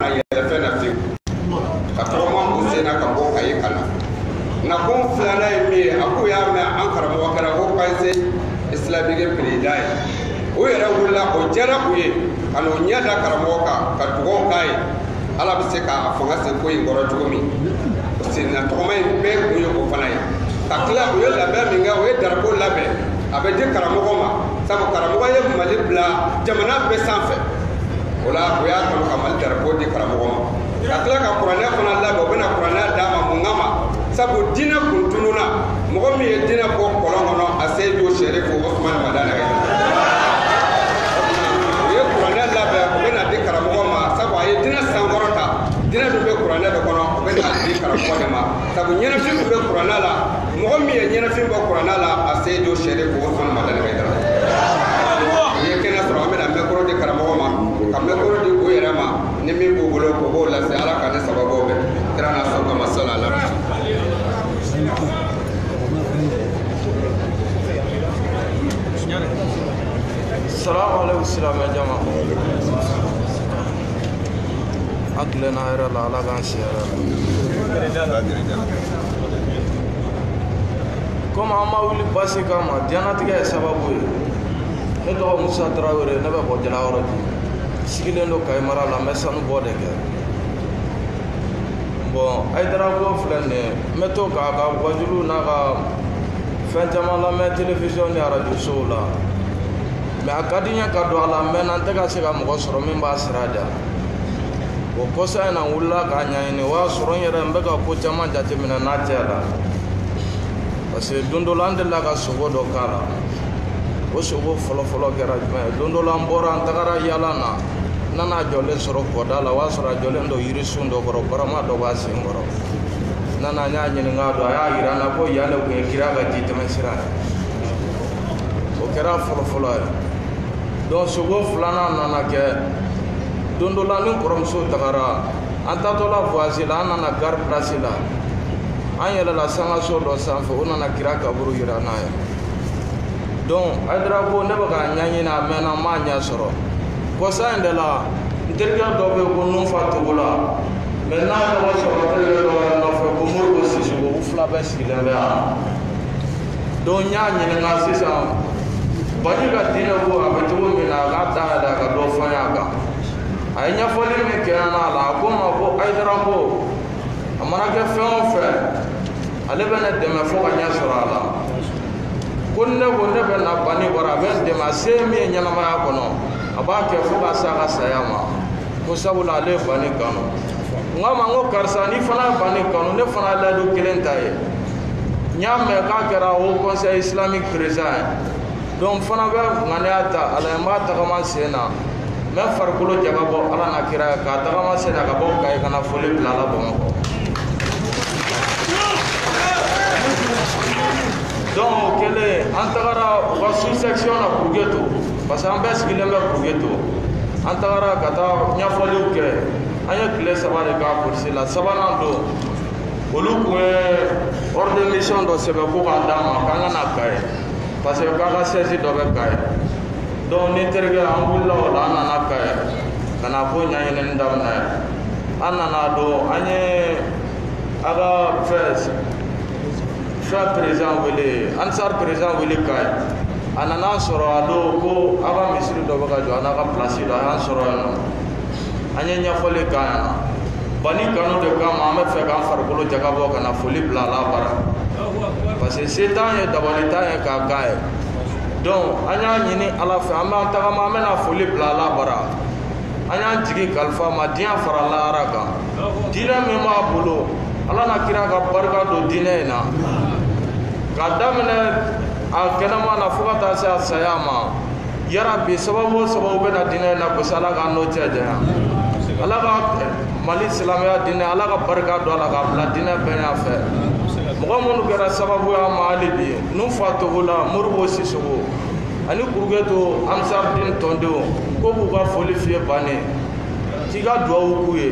a yɛlɛ fɛn na fiyewu ka tɔgɔma u sen na ka bɔ kayi ka na nka kun filanan ye min ye a k'o y'a mɛn an karamɔgɔ kɛra haut conseil islamique perezidan ye u yɛrɛ wulila o diyara u ye ka n'o ɲɛ da karamɔgɔ kan ka dugawu k'a ye ala bɛ se k'a fanga se ko in kɔrɔ cogo min senna tɔgɔma in bɛɛ kun ye o fana ye ka tila u ye labɛn min kɛ u ye darapo labɛn a bɛ di karamɔgɔ ma sabu karamɔgɔ ye mali bila jamana bɛɛ sanfɛ o la u y'a kanu ka mali darapo di karamɔgɔ ma ka tila ka kuranɛ fana labɛn u bɛna kuranɛ d'a ma mun kama sabu diinɛ kun tununna mɔgɔ min ye diinɛ bɔ kɔlɔn kɔnɔ aseyidu serifu osumani madani ye u ye kuranɛ labɛn o bɛna di karamɔgɔ ma sabu a ye diinɛ sankɔrɔta diinɛ dun bɛ kuranɛ de kɔnɔ o bɛna di karamɔgɔ de ma sabu ɲɛnafin min bɛ kuranɛ la mɔgɔ min ye ɲɛnafin bɔ kuranɛ la aseyidu serifu osumani madani ayidara ye kɛnɛ sɔrɔ an bɛna mikoro di karamɔgɔ ma ka mikoro di u yɛrɛ ma ni min b'u bolo k'u b'o lase ala k'an ni sababu bɛn kira n'a somɔgɔ kama sala la salamu aleykum silamɛ jama an tilenna hɛrɛ la ala k'an si hɛrɛ la komi an ma wuli baasi kama diɲɛnatigɛ ye sababu ye ne tɔgɔ musa tarawele ne bɛ bɔ jalakɔrɔji sigilen don kayi mara la n bɛ sanu bɔ de kɛ bon ayidara ko filɛ nin ye n bɛ to k'a ka wajuliw n'a ka fɛn caman lamɛn telewisiyɔn ni arajo sow la mɛ a ka di n ye ka don a la mɛnna n tɛ ka se ka mɔgɔ sɔrɔ min b'a sira da o kɔsa in na n wulila k'a ɲɛɲini o y'a sɔrɔ n yɛrɛ n bɛ ka ko caman jateminɛ n'a tɛ la parce que don dɔ la n delila ka sogo dɔ k'a la o sogo fɔlɔfɔlɔ kɛra jumɛn ye don dɔ la n bɔra n tagara yaala na n nana a jɔlen sɔrɔ kɔda la o y'a sɔrɔ a jɔlen don yirisun dɔ kɔrɔ barama dɔ b'a sen kɔrɔ n nana n y'a ɲininka a don a y'a yira n na ko yan de tun ye kira ka ji tɛmɛ sira ye o kɛra fɔlɔfɔlɔ ye donc sogo filanan nana kɛ don dɔ la ni kɔrɔmuso tagara an tatɔla voyage la an nana gare place la an yɛlɛla sangaso dɔ sanfɛ o nana kira kaburu yira n na yen donc ayidara ko ne bɛ k'a ɲɛɲini a mɛnna n m'a ɲɛ sɔrɔ kɔsa in de la n terikɛ dɔ bɛ yen ko nunfa togola mɛ n'a tɔgɔ sɔrɔ terikɛ dɔ b'a nɔfɛ ko modibo sisɔkɔ u fila bɛɛ sigilen bɛ yan donc n y'a ɲininka sisan bani ka diinɛ ko a bɛ cogo min na a k'a ta yɛrɛ a ka dɔ fɔ n y'a kan a ye ɲɛfɔli min kɛ n ɲɛna a la a ko n ma ko ayidara ko a mana kɛ fɛn o fɛn ale bɛ ne dɛmɛ fo ka ɲɛ sɔrɔ a la ko ne ko ne bɛ na bani bara a bɛ n dɛmɛ a se min ye ɲɛnamaya kɔnɔ a b'a kɛ fo ka se a ka saya ma ko sabula ale ye bani kanu n k'a ma n ko karisa n'i fana ye bani kanu ne fana ye layidu kelen ta i ye n y'a mɛn k'a kɛra haut conseil islamique président ye donc n fana bɛ ŋaniya ta ala ye n b'a tagama sen na n bɛ n farikolo jaga bɔ ala na kira ye k'a tagama sen na ka bɔ kayi ka na foli bila a la bamakɔ donc o kɛlen an tagara u ka sous section na kurugeto parce que an bɛɛ sigilen bɛ kurugeto an tagara ka taa ɲɛfɔliw kɛ an ye tile saba de k'a kurusi la sabanan don olu ko u bɛ ordre de mission dɔ sɛbɛn ko k'a d'an ma k'an ka na kayi parce que k'a ka siège dɔ bɛ kayi donc n ni n terikɛ an wulila o la an nana kayi ka na ko ɲɛɲinini daminɛ an nana don an ye a ka fɛn fɛn perezan wele ansar perezan wele kayi a nana an sɔrɔ a don ko a ka misiri dɔ bɛ ka jɔ a n'a ka pilasi dɔ a y'an sɔrɔ yen nɔ an ye ɲɛfɔli k'a ɲɛna bani kanu de kama an b'a fɛ k'an farikolo jaga bɔ ka na foli bila a la bara parce que se t'an ye dabali t'an ye k'a k'a ye donc an y'a ɲini ala fɛ an b'an tagama an bɛna foli bila a la bara an y'an jigi kalifa a ma diɲɛ fara lahara kan diinɛ min b'a bolo ala na kira ka barika don diinɛ in na k'a daminɛ a kɛnɛma na fo ka taa se a saya ma yarabi sababu o sababu bɛ na diinɛ in nagasi ala k'an n'o cɛ janya ala ka mali silamɛya diinɛ ala ka barika don a la k'a bila diinɛ bɛɛ ɲɛfɛ mɔgɔ minnu kɛra sababuya ma hali bi n'u fa togola modibo sisoko ani kuruketo ansardin tɔndenw ko u b'u ka foli f'i ye bani k'i ka duwawu k'u ye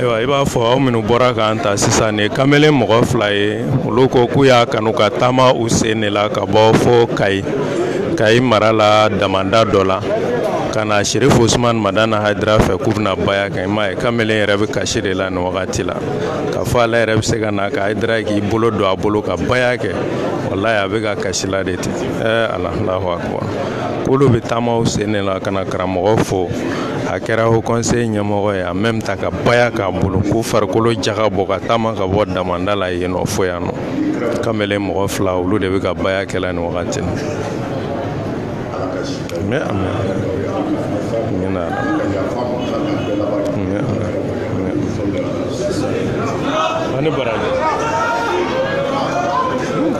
ayiwa i b'a fɔ aw minnu bɔra k'an ta sisan nin kamalen mɔgɔ fila ye olu ko k'u y'a kanu ka taama u sen de la ka bɔ fo kayi kayi mara la damanda dɔ la ka na sirif usman madana haidara fɛ k'u bɛna baya kɛ i m'a ye kamalen yɛrɛ bɛ kasi de la nin wagati la k'a fɔ ale yɛrɛ bɛ se ka na ka haidara k'i bolo don a bolo ka baya kɛ walayi a bɛ ka kasi la de ten ɛɛ alahu akubar k'olu bɛ taama u sen de la ka na karamɔgɔ fo a kɛra haut conseil ɲɛmɔgɔ ye en même temps ka baya k'a bolo k'u farikolo jaga bɔ ka taama ka bɔ damanda la yen nɔ fo yan nɔ kamalen mɔgɔ fila olu de bɛ ka baya kɛla nin wagati na mɛ a ni baraji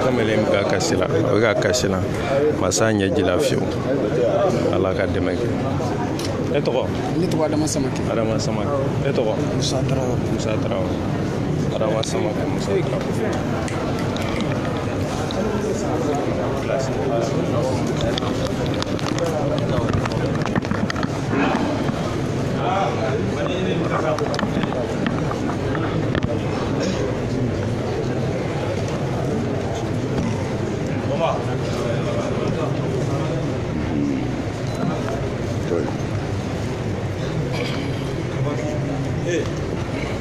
kamalen bɛ ka kasi la a bɛ ka kasi la ma s'a ɲɛji la fiyewu ala ka dɛmɛ kɛ e tɔgɔ ne tɔgɔ adama samake adama samake e tɔgɔ musa tarawele musa tarawele Adama sama ko muso ka ko Hey.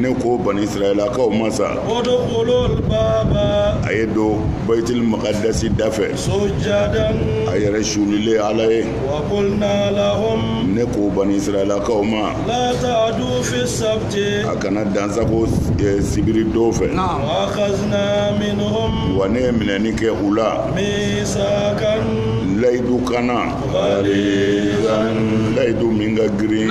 ne ko bani israɛlakaw ma sa a ye don bayitil makadasi da fɛ a yɛrɛ sulilen ala ye ne ko bani israɛlakaw ma a kana dansago eh, sibiri don fɛ wa ne ye minɛni kɛ u la layidu kan na layidu min ka girin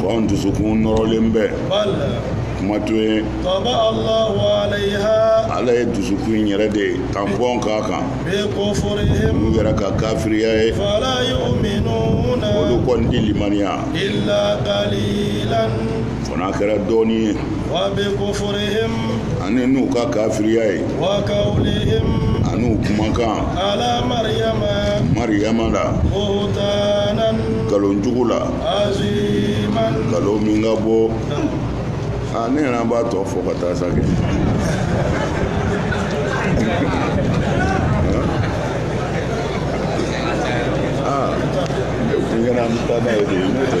ko an dusukun nɔrɔlen bɛ kuma to yen ala ye dusukun yɛrɛ de tanpɔn k'a kan n'u yɛrɛ ka kafiriya ye olu kɔni tɛ limaniya fo n'a kɛra dɔɔnin ye ani n'u ka kafiriya ye ani u kumakan mariyama la nkalon jugu la nkalon min ka bon aa ne yɛrɛ b'a tɔ fɔ ka taa sa kɛ aa ne kun kɛra an bɛ taa n'a ye de n'o tɛ.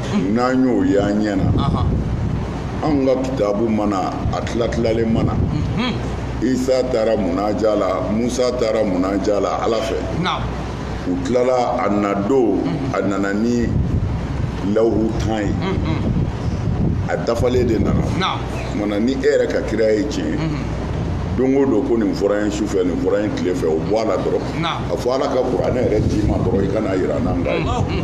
n'an y'o ye an ɲɛ na anw ka kitabu ma na a tilatilalen ma na mhm. isa taara munaja la musa taara munaja la ala fɛ u tilala a na don mhm. a nana ni lawhu tan ye mhm. a dafalen de nana o tuma na ni e yɛrɛ ka kira ye tiɲɛ don o don ko nin fɔra ye su fɛ nin fɔra ye tile fɛ o bɔ a la dɔrɔn a fɔ ala ka kuranɛ yɛrɛ d'i ma dɔrɔn i ka n'a yira an n'an k'a ye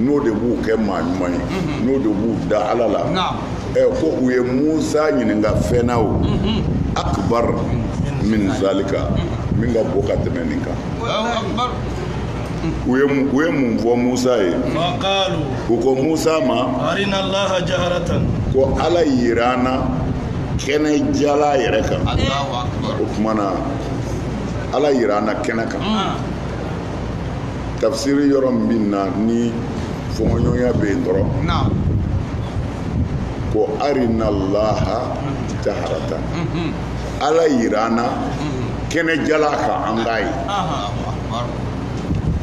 n'o de b'u kɛ maa ɲuman ye mhm. n'o de b'u da ala la ɛ ko u ye musa ɲininka fɛn na o mhm. akbar min zalika mhm. min ka bon ka tɛmɛ nin kan u ye u ye mun fɔ musa ye u ko musa ma ko ala yira an na kɛnɛ jala yɛrɛ kan o tuma na ala yira an na kɛnɛ kan tafsiri yɔrɔ min bɛ na ni fɔnkɔɲɔgɔnya bɛ yen dɔrɔn ko arinalaha jaharatan ala yira an na kɛnɛ jala kan an k'a ye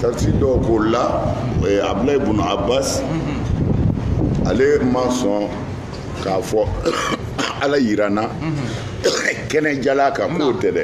tafsiri dɔw k'o la abdulayi ibunu abbas ale ma sɔn k'a fɔ ala yira an na kɛnɛ jala kan k'o tɛ dɛ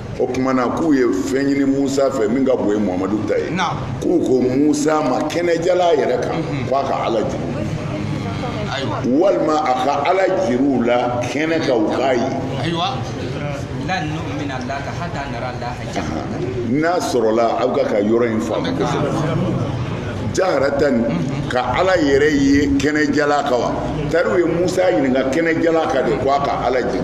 o tuma na k'u ye fɛn ɲini musa fɛ min ka bon ye muhamadu ta ye k'u ko musa ma kɛnɛjala yɛrɛ kan mhm. k'a ka ala jir'u walima a ka ala jir'u la kɛnɛ kan u k'a ye n'a sɔrɔla aw ka kan ka yɔrɔ in faamu kosɛbɛ jaharatan nin mhm. ka ala yɛrɛ ye kɛnɛjala kan wa tari u ye musa ɲininka kɛnɛjala kan de ko a ka ala jira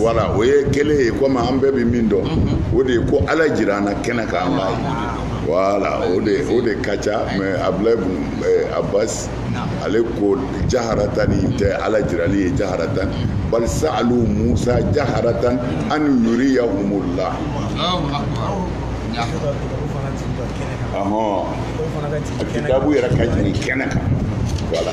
wala o ye kelen ye komi an bɛɛ bɛ min dɔn o de ye ko ala jira an na kɛnɛ kan an b'a ye wala o de o de ka ca mɛ abulayi ibunu abasi ale ko jaharatan nin tɛ ala jirali ye jaharatan bali sa'alu musa jaharatan an yuriyahumullah ɔhɔn kitabu yɛrɛ ka jigin kɛnɛ kan wala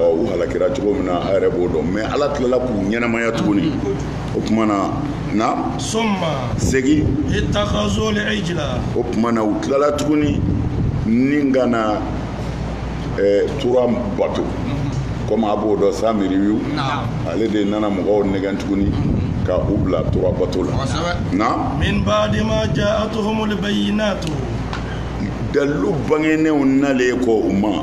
u halakira cogo min na a yɛrɛ b'o dɔn mɛ ala tilala k'u ɲɛnamaya tuguni o tuma na summa segin ittakazul ijila o tuma na u tilala tuguni ni ka na eh, tura bato komi a b'o dɔn samiriyu ale de nana mɔgɔw nɛgɛn tuguni mhm. ka u bila tura bato la na min ba'di ma ja'atuhumul bayyinatu dalilu bangenenw nalen kɔ u ma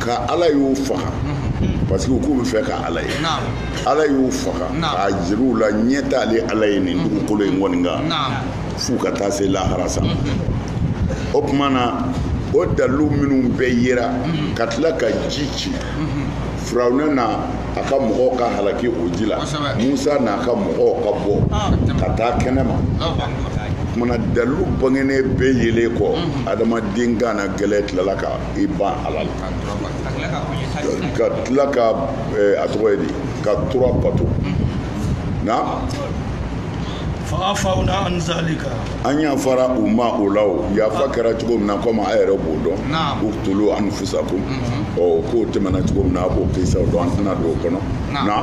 ka ala y'u faga parce que k'u bɛ fɛ ka ala ye ala y'u faga k'a jir'u la ɲɛ t'ale ala ye nin dugukolo in kɔni kan f'u ka taa se lahara sa o tuma na o dalilu minnu bɛɛ yera ka tila ka ji ci firawuna n'a ka mɔgɔw ka halaki o ji la musa n'a ka mɔgɔw ka bɔ ah, ka taa kɛnɛ ma kuma na dalilu bangenen bɛɛ yelen kɔ mhm. adamaden kannagɛlɛn tilala ka i ban ala la ka tila ka eh, a tɔgɔ ye di ka tura bato mhm. na fa'afawna an zalika an yafara u ma o la o yafa kɛra cogo min na komi a yɛrɛ b'o dɔn uqtulu anfusakum mhm. ɔ k'o tɛmɛna cogo min na a b'o kisaw dɔn an tɛna don o kɔnɔ na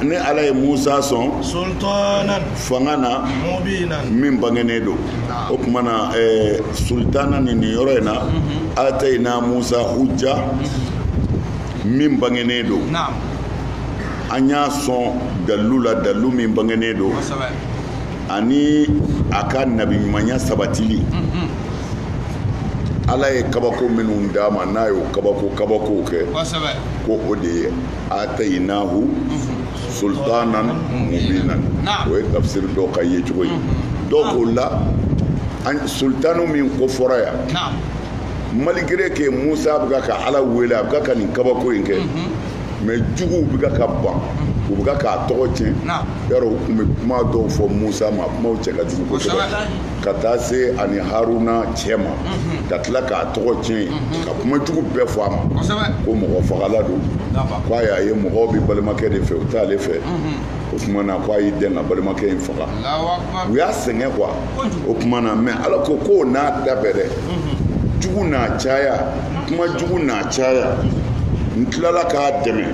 ne ala ye musa sɔn fanga na min bangenen don o tuma na eh, sultana ni nin yɔrɔ in na mhm. atayina musa hujja mhm. min bangenen don an y'a sɔn dalilu la dalilu min bangennen don ani a ka nabiɲumanya sabatili mm-hmm. ala ye kabako minnu d'a ma n'a y'o kabako kabakow kɛ ko o de ye atayinahu mm-hmm. sultanan mubinan o ye tafsiri dɔ ka yecogo ye mm-hmm. dɔw k'o la sultanu min ko fɔra yan malgré que musa bɛ ka ka ala wele a bɛ ka ka nin kabako in kɛ mais juguw bɛ ka ban u bɛ k'a tɔgɔ tiɲɛ yɔrɔ u tun bɛ kuma dɔw fɔ musa ma kumaw cɛ ka jugu kosɛbɛ ka taa se a ni haruna cɛ ma mhm. ka tila k'a tɔgɔ tiɲɛ mhm. ka kuma jugu bɛɛ fɔ a ma ko mɔgɔfagala don ko a y'a ye mɔgɔw bɛ balimakɛ de fɛ u t'ale fɛ mhm. o tuma na ko a y'i dɛn ka balimakɛ in faga u y'a sɛgɛn quoi o kuma na mais ala ko k'o n'a ta bɛɛ dɛ jugu n'a caya kuma jugu n'a caya n tilala k'a dɛmɛ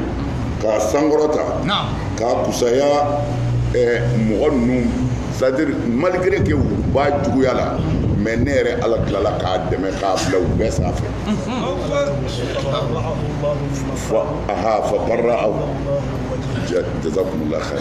k'a sankɔrɔta k'a kusaya eh, mɔgɔ ninnu c'est-à-dire malgré que u b'a juguya la mais ne yɛrɛ ala tilala k'a dɛmɛ k'a bila u bɛɛ sanfɛ fa aha fa barra'ahu jazakumullah khair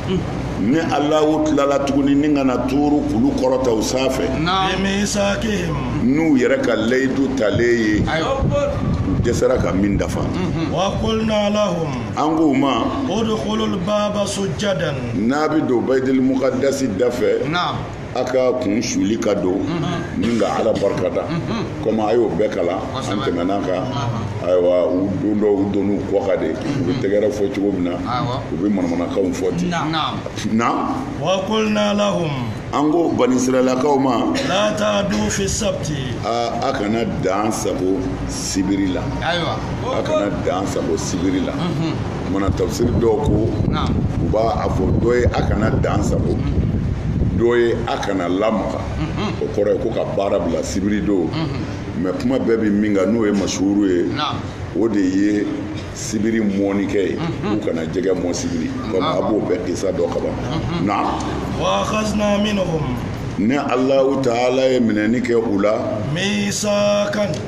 ne alahu tilala tuguni ne ka na tuuru kulu kɔrɔta u sanfɛ bimisakihim n'u yɛrɛ ka layidu talen ye u dɛsɛra ka min dafa mhm. wa kulna lahum an k'u ma udkhulul baba sujjadan n'a bɛ don bayitili mukadasi da fɛ aw ka kun suli ka don ni ka ala barikada komi a y'o bɛɛ kalan an tɛmɛna kan ayiwa u dontɔ u donn'u kɔ kan de u bɛ tɛgɛrɛ fɔ cogo min na u bɛ manamanakanw fɔ ten na wa kulna lahum an ko bani israɛlakaw ma la taadu fi sabti a kana dan sago sibiri la a kana dan sago sibiri la mana tafsiri dɔw ko u b'a fɔ dɔ ye a kana dan sago dɔ ye a kana lamaga o kɔrɔ ye ko ka baara bila sibiri don mais kuma bɛɛ bɛ min kan n'o ye masuuru ye o de ye sibiri mɔnikɛ ye k'u kana jɛgɛ mɔ sibiri kɔmi a b'o bɛɛ kisa dɔn kaban naamu wa akazna minhum ni alahu taala ye minɛni kɛ u la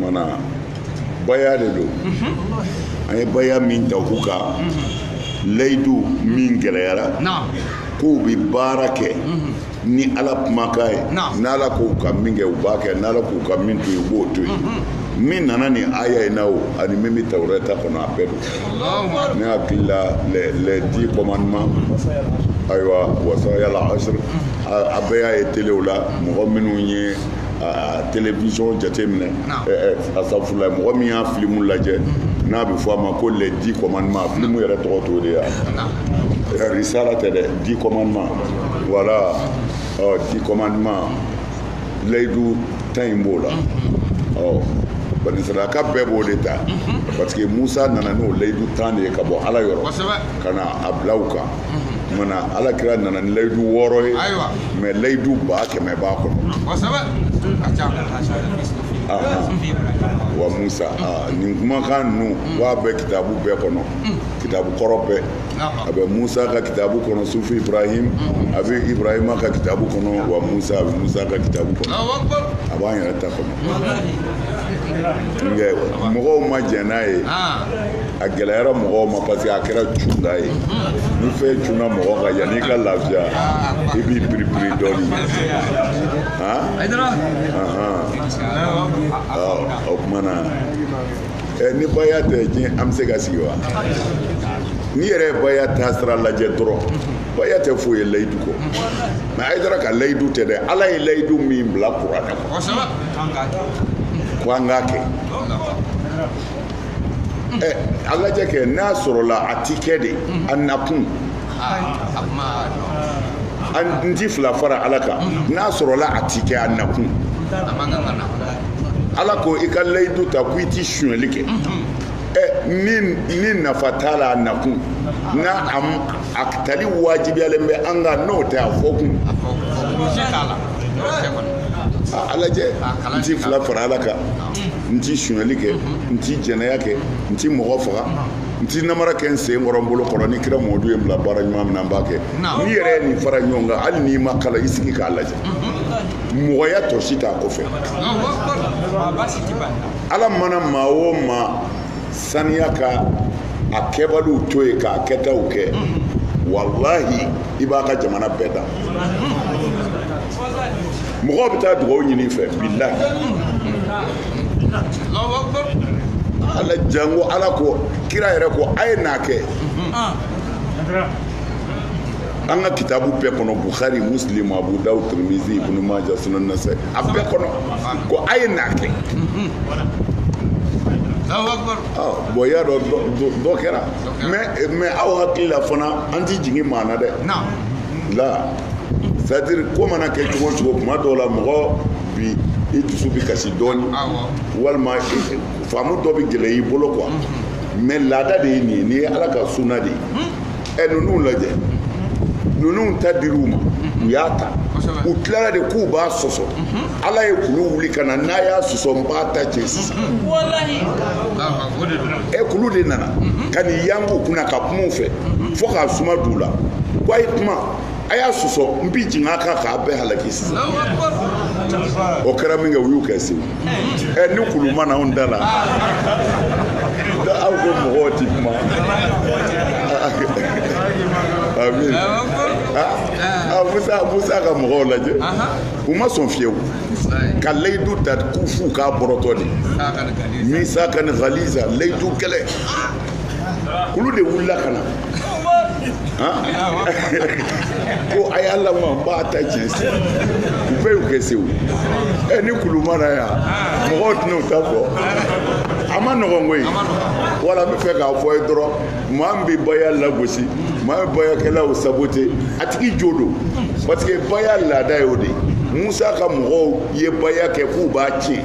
mana baya de don an ye baya min da u kan layidu min gɛlɛyara k' u bɛ baara kɛ ni ala kumakan ye n' ala k'u ka min kɛ u b'a kɛ n' ala k'u ka min to u b'o to yen min nana ni aya in na o ani min bɛ tawurata kɔnɔ a bɛɛ don ne hakili la les dix commandements ayiwa wasayal asr a bɛɛ y'a ye telew la mɔgɔ minnu ye a télévision jateminɛ asafurulayi mɔgɔ min y'a filimu lajɛ mm-hmm. n'a bɛ fɔ a ma ko les dix commandements a filimu yɛrɛ tɔgɔ t'o de ye wa risala tɛ dɛ dix commandements voilà ɔ dix commandements layidu tan in b'o la mm-hmm. ɔ bani israɛlaka bɛɛ b'o de ta mm-hmm. parce que Musa nana n'o layidu tan de ye ka bɔ Ala yɔrɔ ka na a bila u kan mana ala kira nana ni layidu wɔɔrɔ ye mais layidu ba kɛmɛ b'a kɔnɔ wa musa nin kumakan ninnu b'a bɛ kitabu bɛɛ kɔnɔ kitabu kɔrɔ bɛɛ a bɛ musa ka kitabu kɔnɔ suhufi ibrahim a bɛ ibrahima ka kitabu kɔnɔ wa musa a bɛ musa ka kitabu kɔnɔ a b'an yɛrɛ ta kɔnɔ mɔgɔw ma jɛn n'a ye a gɛlɛyara mɔgɔw ma parce que a kɛra cunda ye ni fɛn cunna mɔgɔ kan yanni i ka lafiya i b'i piripiri dɔɔni o kuma na ni baya tɛ diɲɛ an bɛ se ka sigi wa n'i yɛrɛ ye baya taasira lajɛ dɔrɔn baya tɛ foyi ye layidu kɔ mais ayidara ka layidu tɛ dɛ ala ye layidu min bila kuranɛ kɔnɔ ko an k'a kɛ ɛ a lajɛ kɛ n'a sɔrɔla a ti kɛ de a nakun n ti fila fara ala kan n'a sɔrɔla a ti kɛ a nakun ala ko i ka layidu ta ko i ti sonyɛli kɛ ni nafa t'a la a nakun n'a a tali wajibiyalen bɛ an kan n'o tɛ a fɔ kun a lajɛ n ti fila fara ala kan n ti sunyali kɛ n ti jɛnɛya kɛ n ti mɔgɔ faga n ti namara kɛ n sen kɔrɔ n bolo kɔrɔ ni kira mɔdu ye n bila baara ɲuman min na n b'a kɛ n'i yɛrɛ ye nin fara ɲɔgɔn kan hali n'i ma kalan i sigi k'a lajɛ mɔgɔya tɔ si t'a kɔfɛ ala mana maa o maa saniya ka a kɛbaliw to yen k'a kɛtaw kɛ walahi i b'a ka jamana bɛɛ dan mɔgɔw bɛ taa dugawu ɲini fɛ bilahi ala jango ala ko kira yɛrɛ ko a ye n'a kɛ an ka kitabu bɛɛ kɔnɔ bukhari muslim abu dawud tirmizi ibnu maja sunan nasai a bɛɛ kɔnɔ ko a ye n'a kɛ bon y'a dɔn dɔ kɛra mais aw hakili la fana an ti jigin maa na dɛ la c'est-à-dire ko mana kɛ cogo o cogo kuma dɔw la mɔgɔ bi i dusu bi kasi dɔɔni walima faamu dɔ bi gɛlɛya i bolo quoi mhm. mais laada de ye nin ye nin ye ala ka sunna de ye mhm. ɛ ninnu lajɛ mhm. ninnu ta dir'u ma u y'a ta u tilara de k'u b'a sɔsɔ ala ye kulu wuli ka na n'a y'a sɔsɔ n b'a ta cɛ sisan ɛ kulu de nana ka n'i yang'u kunna ka kuma u fɛ fo k'a suma d'u la ko a ye kuma a y'a sɔsɔ n bi jigin a kan k'a bɛɛ halaki sisan o kɛra min kɛ u y'u kɛ sewu ɛ ni kulu ma na anw da la aw ko mɔgɔw ti kuma amin ah, musa musa ka mɔgɔw lajɛ u ma sɔn fiyewu ka layidu ta k'u f'u k'a bɔrɔtɔ de misakan ghaliza layidu gɛlɛn kulu de wulila ka na ko a y'a lamaa n b'a ta tiɲɛ se u bɛɛ y'u kɛ sewu ɛ ni kulu ma na yan mɔgɔw tɛna u ta fɔ a ma nɔgɔn koyi voilà n bɛ fɛ k'a fɔ i ye dɔrɔn maa min bɛ baya lagosi maa min bɛ bayakɛlaw sabote a tigi jo don parce que baya laada y'o de ye musa ka mɔgɔw ye baya kɛ k'u b'a tiɲɛ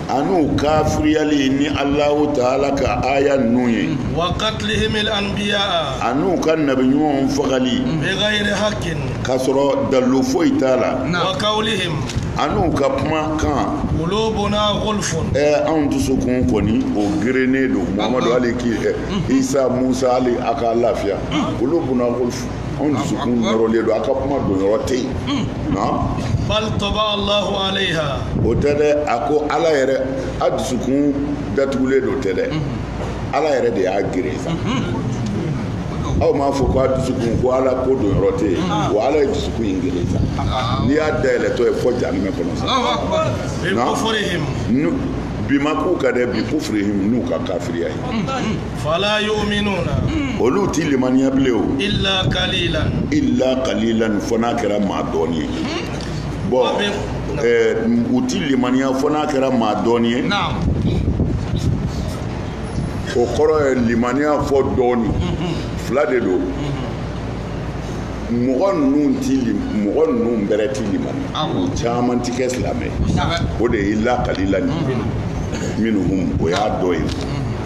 an'u kafiriyali ni Alahu Taala ka aya ninnu ye. wa katilihimil anbiya. an'u ka nabi ɲumanw fagali. bigayiri hakin. k'a sɔrɔ dalilu foyi t'a la. wa kawulihim. an'u ka kuma kan. kulubuna gulfun. ɛɛ anw dusukun kɔni o gerennen don muhamadu hali k'i ɛ isa musa hali a ka lafiya kulubuna gulfun. anw dusukun nɔrɔlen don a ka kuma don yɔrɔ tɛ yen bal taba'a alahu aleha o tɛ dɛ a ko ala yɛrɛ a dusukun datugulen don tɛ dɛ ala yɛrɛ de y'a geren sa aw m'a fɔ ko a dusukun ko ala ko don yɔrɔ tɛ yen wa ala ye dusukun in geren sa n'i y'a dayɛlɛtɔ ye fɔ jahanamɛ kɔnɔ sa bi ma k'u ka dɛ bikufurihim n'u ka kafiriya ye fala yu'minuna olu ti limaniya bilen o illa qalilan illa qalilan fo n'a kɛra maa dɔɔni ye bon u ti limaniya fo n'a kɛra maa dɔɔni ye o kɔrɔ ye limaniya fɔ dɔɔni fila de don mɔgɔ ninnu ti mɔgɔ ninnu bɛrɛ ti limaniya u caman ti kɛ silamɛ o de ye illa qalilan minhum o y'a dɔ ye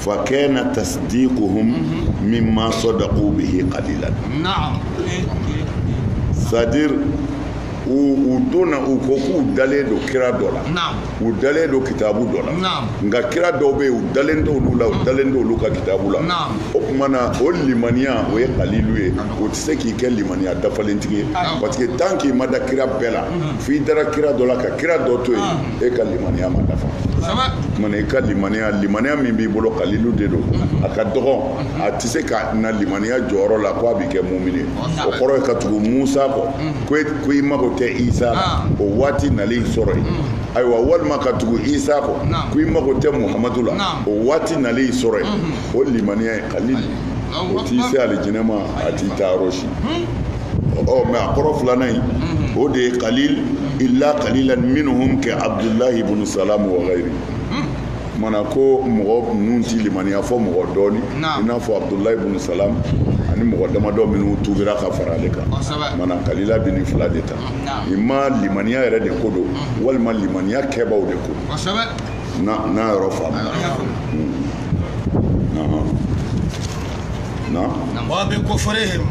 fakana tasdiquhum mimma saddaqu bihi qalilan naam c'est-à-dire u u donna u ko k'u dalen don kira dɔ la naam u dalen don kitabu dɔ la naam nka kira dɔw bɛ yen u dalen t'olu la u dalen t'olu ka kitabu la Naam. o tuma na o limaniya o ye kalilu ye o tɛ se k'i kɛ limaniya dafalentigi ye parce que tant k'i ma da kira bɛɛ la f'i dara kira dɔ la ka kira dɔ to yen e ka limaniya ma dafa tuma na i ka limaniya limaniya min b'i bolo kalilu de don a ka dɔgɔn a tɛ se ka na limaniya jɔyɔrɔ la ko a bɛ kɛ mumini o kɔrɔ ye ka tugu musa kɔ e, ko i mago tɛ isa la ah. o waati nalen sɔrɔ yen mm. ayiwa walima ka tugu isa kɔ ko i mago tɛ muhamadu la o waati nalen sɔrɔ yen mm-hmm. o limaniya ye kalili o t'i se alijinɛ ma a t'i taa yɔrɔ si hmm? ɔ mais a kɔrɔ filanan in o de ye kalil illa kalilan minhum ka abdulahi ibn salam wa ghayri maana ko mɔgɔ ninnu ti limaniya fɔ mɔgɔ dɔɔni i n'a fɔ abdulahi ibn salam ani mɔgɔ damadɔ minnu tubira ka fara ale kan maana kalila bi nin fila de ta imma limaniya yɛrɛ de ko don walima limaniya kɛbaw de ko n'a yɔrɔ faamuna na wa bi kufrihim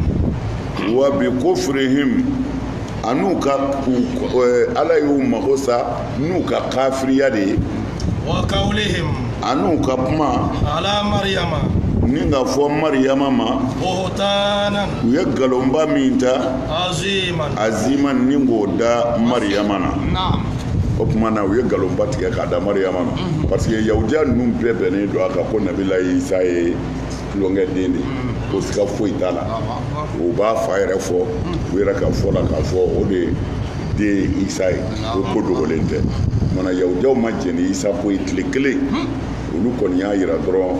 wa bi kufrihim an'u ka eh, ala y'u mago sa n'u ka kafiriya de ye wa qawlihim an'u ka kuma ala mariyama ni ka fɔ mariyama ma buhtanan u ye nkalonba min ta aziman aziman ni k'o da mariyama na naam o tuma na u ye nkalonba tigɛ k'a da mariyama ma parce que yahudiya ninnu bɛɛ bɛnnen don a kan ko nabila isa ye tulonkɛ den de ko siga foyi t'a la u b'a fa yɛrɛ fɔ u yɛrɛ ka fɔ la k'a fɔ o de den isa ye o ko dogolen tɛ kuma na yahudiyaw ma jɛn ni isa ko ye tile kelen olu kɔni y'a yira dɔrɔn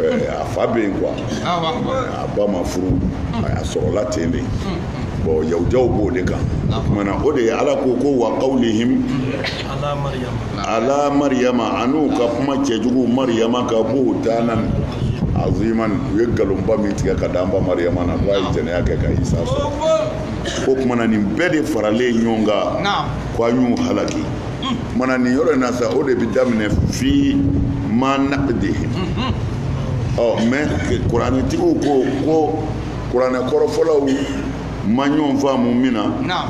eh, a fa bɛ yen quoi a ba ma furu a sɔrɔla ten de bon yahudiyaw b'o de kan o kuma na o de ye ala ko ko wa qawlihim ala mariyama an'u ka kuma cɛjugu mariyama kan buhtanan aziman u ye nkalonba min tigɛ k'a d'an ba mariyama na ko a ye jɛnɛya kɛ ka isa sɔrɔ o kuma na nin bɛɛ de faralen ɲɔgɔn kan ko an y'u halaki kuma na nin yɔrɔ in na sa o de bɛ daminɛ fi ma naqdihim mais kuranɛtigiw ko ko kuranɛ kɔrɔfɔlaw ma ɲɔgɔn faamu min na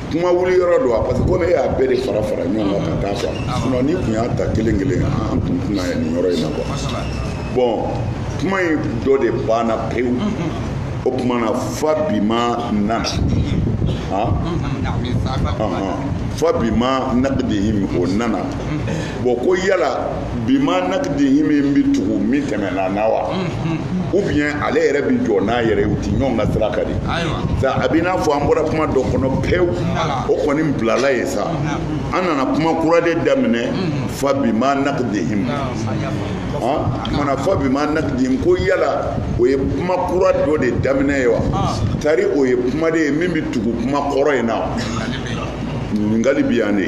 kuma wuli yɔrɔ don wa parce que comme e y'a bɛɛ de fara fara ɲɔgɔn kan ka taa fɔ sinon n'i kun y'a ta kelen kelen an tun tɛna ye nin yɔrɔ in na quoi bon kuma in dɔ de banna pewu o tuma na fa bi ma nana fa bi ma naqdihim o nana bon ko yala bi ma naqdihim in bɛ tugu min tɛmɛna na wa ou bien ale yɛrɛ bɛ jɔ n'a yɛrɛ ye u ti ɲɔgɔn ka sira ka di sa a b'i n'a fɔ an bɔra kuma dɔ kɔnɔ pewu o kɔni bilala ye sa an nana kuma kura de daminɛ fa bi ma naqdihim mana fa bi ma naqdihim ko yala o ye kuma kura dɔ de daminɛ ye wa tari o ye kuma de ye min bɛ tugu kuma kɔrɔ in na ɲininkali bi yan de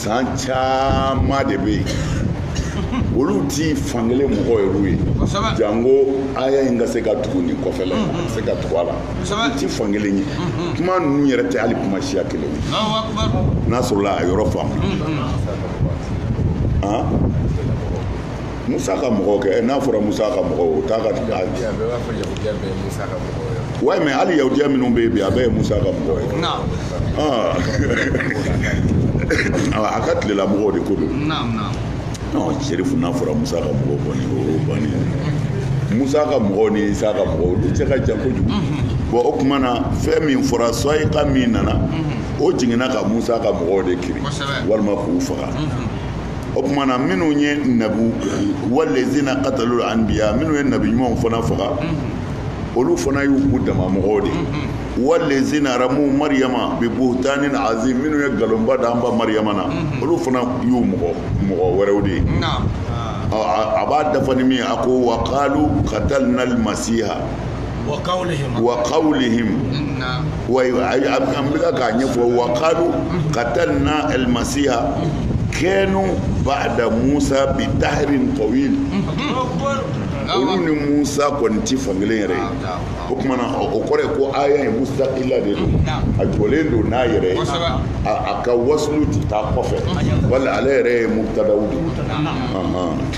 san caman de bɛ yen olu ti fankelen mɔgɔ yɛrɛw ye janko aya in ka se ka tugu nin kɔfɛla in ka se ka tugu a la olu ti fankelen ye kuma ninnu yɛrɛ tɛ hali kuma siya kelen ye n'a sɔrɔla a yɔrɔ faamu Musa ka mɔgɔw kɛ n'a fɔra musa ka mɔgɔw o t'a ka ouais mais hali yahudiya minnu bɛ bi a bɛɛ ye musa ka mɔgɔ ye a ka tile la mɔgɔw de ko don serifu n'a fɔra musa ka mɔgɔw kɔni o ban musa ka mɔgɔw ni isa ka mɔgɔw olu cɛ ka jan kojugu bon o tuma na fɛn min fɔra sa'iqa min nana o jiginna ka musa ka mɔgɔw de kirin walima k'u faga o tuma na minnu ye nabu wallazina qatalul anbiya minnu ye nabi ɲumanw fana faga olu fana y'u k'u dama mɔgɔw de wallazina ramu mariyama bi buhtanin azim minnu ye nkalonba da an ba mariyama na olu fana y'u mɔgɔ mɔgɔ wɛrɛw de ye a b'a dafa ni min a ko wa qalu qatalna al-masiha wa qawlihim wa an bɛ k'a ɲɛfɔ wa qalu qatalna al-masiha kanu ba'da musa bi dahrin tawil olu ni musa kɔni ti fan kelen yɛrɛ ye o tuma na o kɔrɔ ye ko aya in mustaqila de don a jɔlen don n'a yɛrɛ ye a ka wasulu ti taa kɔfɛ wala ale yɛrɛ ye mubtadaw de ye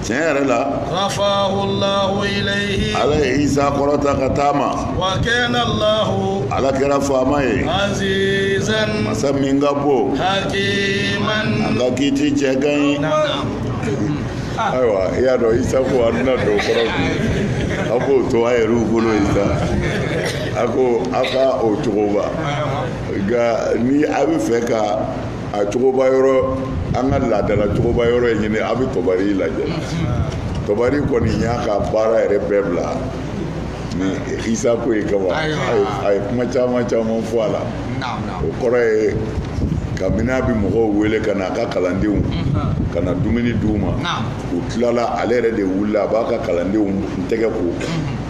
tiɲɛ yɛrɛ la. rafahu allahu ilayhi. ala ye isa kɔrɔta ka taama. wa kana allahu. ala kɛra faama ye. azizan. masa min ka bon. hakiman. a ka kiti cɛ ka ɲi. ayiwa i y'a dɔn isa ko an tɛna don kɔrɔ bi a k'o to a yɛrɛw bolo yen sa a ko a ka o cogoba nka ni a bɛ fɛ ka. a cogoba yɔrɔ an ka laadala cogoba yɔrɔ in ɲini a bɛ tɔbari lajɛ tɔbari kɔni y'a ka baara yɛrɛ bɛɛ bila nin isa ko in kama a ye kuma caman caman fɔ a la o kɔrɔ ye kabini a bɛ mɔgɔw wele ka na a ka kalandenw ka na dumuni di u ma u tilala ale yɛrɛ de wulila a b'a ka kalandenw tɛgɛ ko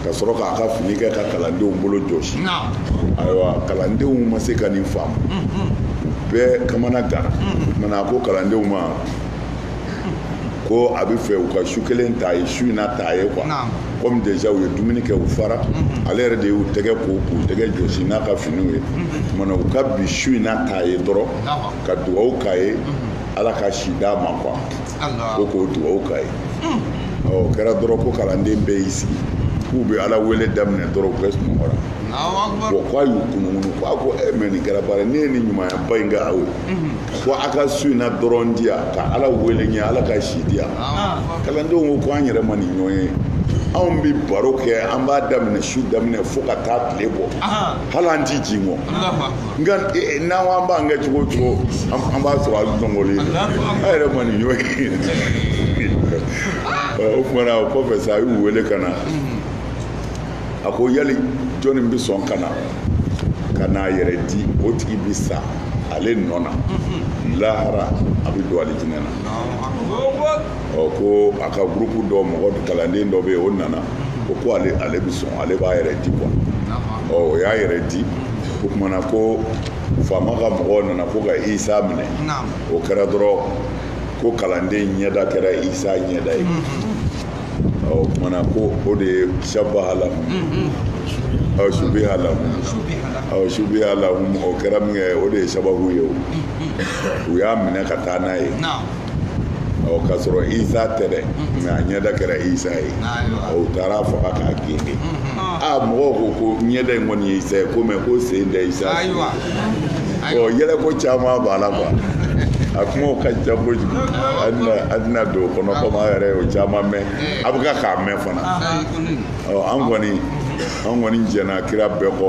ka sɔrɔ k'a ka fini kɛ ka kalandenw bolo jɔsi ayiwa kalandenw ma se ka nin faamu bɛɛ kamanaganna mana a ko kalandenw ma ko a bɛ fɛ u ka su kelen ta ye su in na ta ye quoi comme déjà u ye dumuni kɛ u fara ale yɛrɛ de y'u tɛgɛ ko k'u tɛgɛ jɔsi n'a ka finiw ye mana u ka bi su in na ta ye dɔrɔn ka dugawu k'a ye ala ka si d'a ma quoi ko k'o dugawu k'a ye o kɛra dɔrɔn ko kalanden bɛɛ y'i sigi k'u bɛ ala wele daminɛ dɔrɔn u bɛɛ sunɔgɔra bon k'a y'u kununkunun ko a ko eh mais nin kɛra baara ne ye nin ɲumanba in kɛ aw ye ko a ka su in na dɔrɔn di yan ka ala wele n ye ala ka si di yan kalandenw ko ko an yɛrɛ ma nin ɲɔgɔn ye anw bɛ baro kɛ an b'a daminɛ su daminɛ fo ka taa tile bɔ hali an ti jingɔn nka eh, n'an ko an b'an kɛ cogo o cogo an b'a sɔrɔ an sunɔgɔlen an yɛrɛ ma nin ɲɔgɔn ye o kumana o kɔfɛ sa a y'u wele ka na a ko yali jɔnni bɛ sɔn ka na ka n'a yɛrɛ di o tigi bɛ sa ale nɔ na lahara a bɛ don alijinɛ na ɔ ko a ka gurupu dɔ mɔgɔ kalanden dɔ bɛ yen o nana o ko ale bɛ sɔn ale b'a yɛrɛ di quoi ɔ o y'a yɛrɛ di. o tuma na ko faama ka mɔgɔw nana ko ka isa minɛ o kɛra dɔrɔn ko kalanden ɲɛda kɛra isa ɲɛda ye mm-hmm. o tuma na ko o de ye shabaha lahum mm-hmm. shubiha lahum shubiha lahum o kɛra min kɛ o de ye sababu ye o mm-hmm. u y'a minɛ ka taa n'a ye k'a sɔrɔ isa tɛ dɛ mɛ a ɲɛda kɛra isa ye u taara a faga k'a gengen mɔgɔw ko ko ɲɛda in kɔni ye isa ye ko mɛ ko sen tɛ isa ɔ yɛlɛko caman b'a la quoi a kumaw ka ca kojugu an tɛna don o kɔnɔ komi an yɛrɛ y'o caman mɛn a bɛ ka k'a mɛn fana ɔ an kɔni an kɔni jɛnna kira bɛɛ kɔ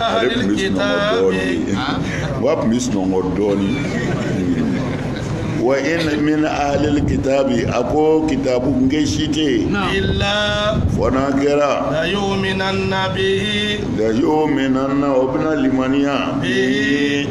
ale tun bɛ sunɔgɔ dɔɔnin wa tun bɛ sunɔgɔ dɔɔnin wa in min ahlil kitabi a ko kitabunkɛ si tɛ yen illa fɔ n'a kɛra la yu'minanna bihi la yu'minanna o bɛna limaniya bihi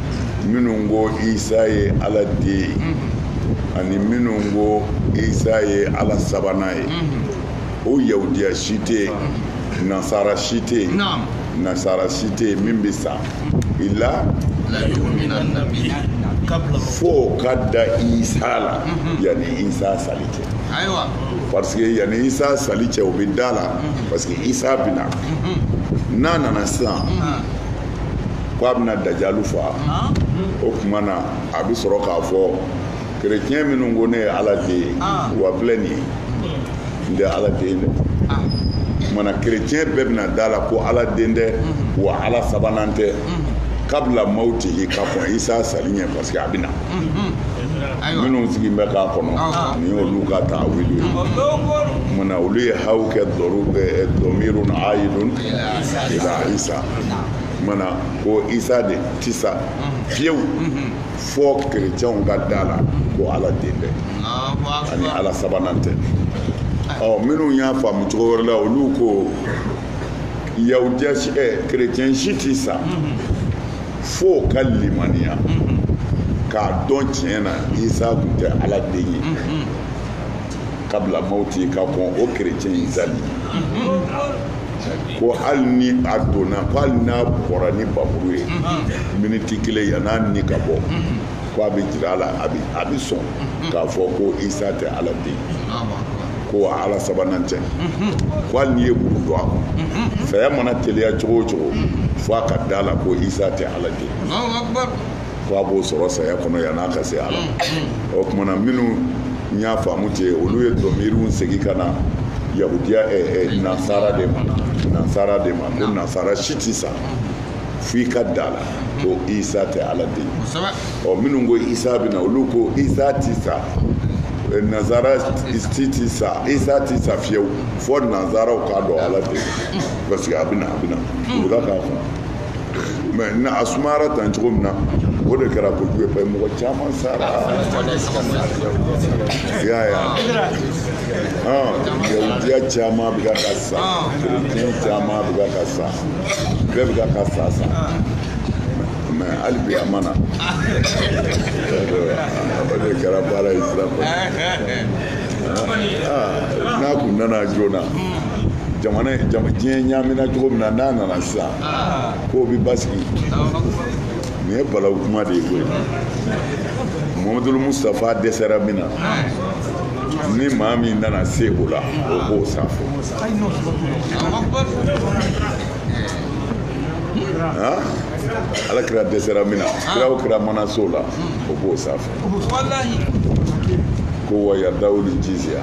minnu ko isa ye ala den ye mm-hmm. ani minnu ko isa ye ala sabanan ye mm-hmm. o yahudiya si tɛ yen mm-hmm. nasara si tɛ yen nasara si tɛ yen min bɛ sa illa fo ka da isa la yanni isa sali cɛ parce que yanni isa sali cɛ o bɛ da la parce que isa bɛ na n'a nana sisan. ko a bɛna dajalu faa o tuma na a bɛ sɔrɔ k'a fɔ kerecɛn minnu ko ne ye ala den ye wa filɛ nin ye n tɛ ala den dɛ o tuma na kerecɛn bɛɛ bɛna da la ko ala den tɛ wa ala sabanan tɛ kabila mawtihi ka kɔn isa sali ɲɛ parce que a bɛna minnu sigilen bɛ k'a kɔnɔ nin y'olu ka ta'awili ye o tuma na olu ye haw kɛ dɔru dɔmirun ayidun ila isa mana ko isa de tɛ sa fiyewu fɔ kerecɛnw ka da la ko ala den tɛ ani ala sabanan tɛ ɔ minnu y'a faamu cogo wɛrɛ la olu ko yahudiya ɛ kerecɛn si tɛ sa fo ka limaniya k'a dɔn tiɲɛ na isa tun tɛ ala den ye kabila mawti ka kɔn o kerecɛn in sali ko hali ni a donna ko hali n'a bɔra ni bamuru ye miniti kelen yan'a ni ka bɔ ko a bɛ jira a la a bɛ a bɛ sɔn k'a fɔ ko isa tɛ ala den ko ala sabanan tɛ ko hali n'i ye muru don a kɔnɔ saya mana teliya cogo o cogo fo a ka da la ko isa tɛ ala den fo a b'o sɔrɔ saya kɔnɔ yann'a ka se ala o tuma na minnu y'a faamu ten olu ye dɔmiri segin ka na yahudiya nansara de ma nansara de ma ko nansara si tɛ sa fo i ka da a la ko isa tɛ ala den ɔ minnu ko isa bɛna olu ko isa tɛ sa nansara ti ti sa isa ti sa fewu fo nansaraw k'a dɔn ala den parce que a bɛna a bɛna u bɛ k'a fɔ mais a sumayara tan cogo min na o de kɛra kojugu ye parce que mɔgɔ caman sara y'a ye yahudiya caman bɛ kan ka sa kerecɛn caman bɛ kan ka sa bɛɛ bɛ kan ka sa mais hali bi a ma na o de kɛra baara ye sira fɛ n'a kun nana joona diɲɛ ɲaamina cogo min na n'a nana sisan k'o bɛ basigi nin ye balawu kuma de ye koyi mahamadulu mustapha dɛsɛra min na ni maa min nana se o la o b'o sanfɛ ala kira dɛsɛra min na kira o kira mana se o la o b'o sanfɛ ko wa yadawuli jizya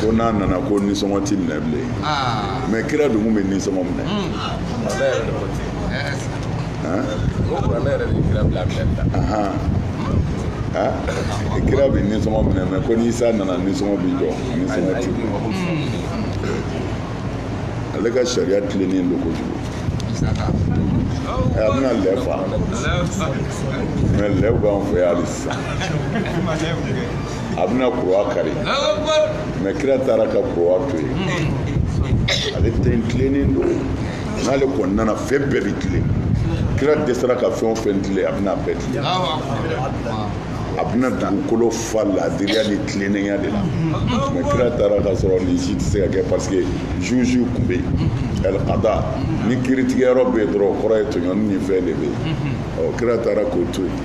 ko n'a nana ko nisɔngɔ ti minɛ bilen ah. mais kira dun kun bɛ nisɔngɔ minɛ kira bɛ nisɔngɔ minɛ mais ko ni isa nana nisɔngɔ bɛ jɔ nisɔngɔ ti ale ka sariya tilennen don kojugu a bɛna lɛ fa mais lɛw b'an fɛ yan hali sisan a bɛna kuruwa kari mais kira taara ka kuruwa to yen hmm. ale ta tilennen don n'ale kɔni nana fɛn bɛɛ bɛ tilen kira dɛsɛra ka fɛn o fɛn tilen a bɛna bɛɛ tilen a bɛna dugukolo fa laadiriya ni tilennenya de la mais kira taara ka sɔrɔ nin si tɛ se ka kɛ parce que juge tun bɛ yen ɛlkada ni kiritigɛyɔrɔ bɛ yen dɔrɔn o kɔrɔ ye tɔɲɔni ni fɛn de bɛ yen ɔ kira taara k'o to yen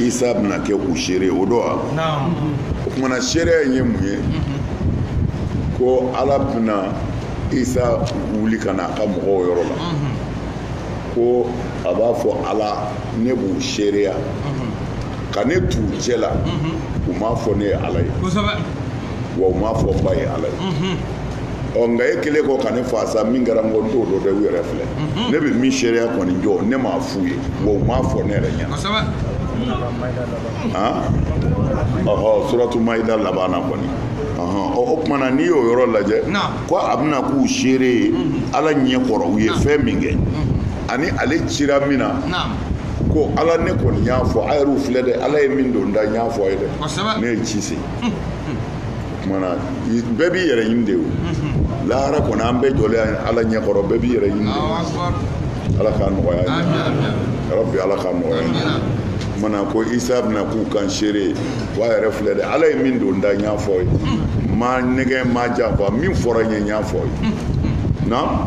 isa bɛna kɛ u seere ye o don wa o tuma na seereya in ye mun ye ko ala bɛna isa wuli ka na a ka mɔgɔw yɔrɔ la ko a b'a fɔ ala ne b'u seereya ka ne t'u cɛ la u m'a fɔ ne ye ala ye wa u m'a fɔ ba ye ala ye ɔ nka e kɛlen kɔ ka ne fa sa min kɛra n kɔ n t'o dɔn dɛ u yɛrɛ filɛ ne bɛ min seereya kɔni jɔ ne m'a f'u ye wa u m'a fɔ ne yɛrɛ ɲɛna ɔhɔ suratu mayida laban na kɔni o tuma na n'i y'o yɔrɔ lajɛ ko a bɛna k'u seere ye ala ɲɛ kɔrɔ u ye fɛn min kɛ ani ale cira min na ko ala ne kɔni y'a fɔ a yɛrɛw filɛ dɛ ala ye min don n da n y'a fɔ a ye dɛ ne ye ci se kumana bɛɛ b'i yɛrɛ ɲini de o lahara kɔnɔ an bɛɛ jɔlen ala ɲɛkɔrɔ bɛɛ b'i yɛrɛ ɲini ala k'a nɔgɔya ya rabbi ala k'a nɔgɔya mana ko isa bɛna k'u kan seere o a yɛrɛ filɛ dɛ ala ye min don n da n y'a f'u ye n m'a nɛgɛ n m'a janfa min fɔra n ye n y'a f'u ye na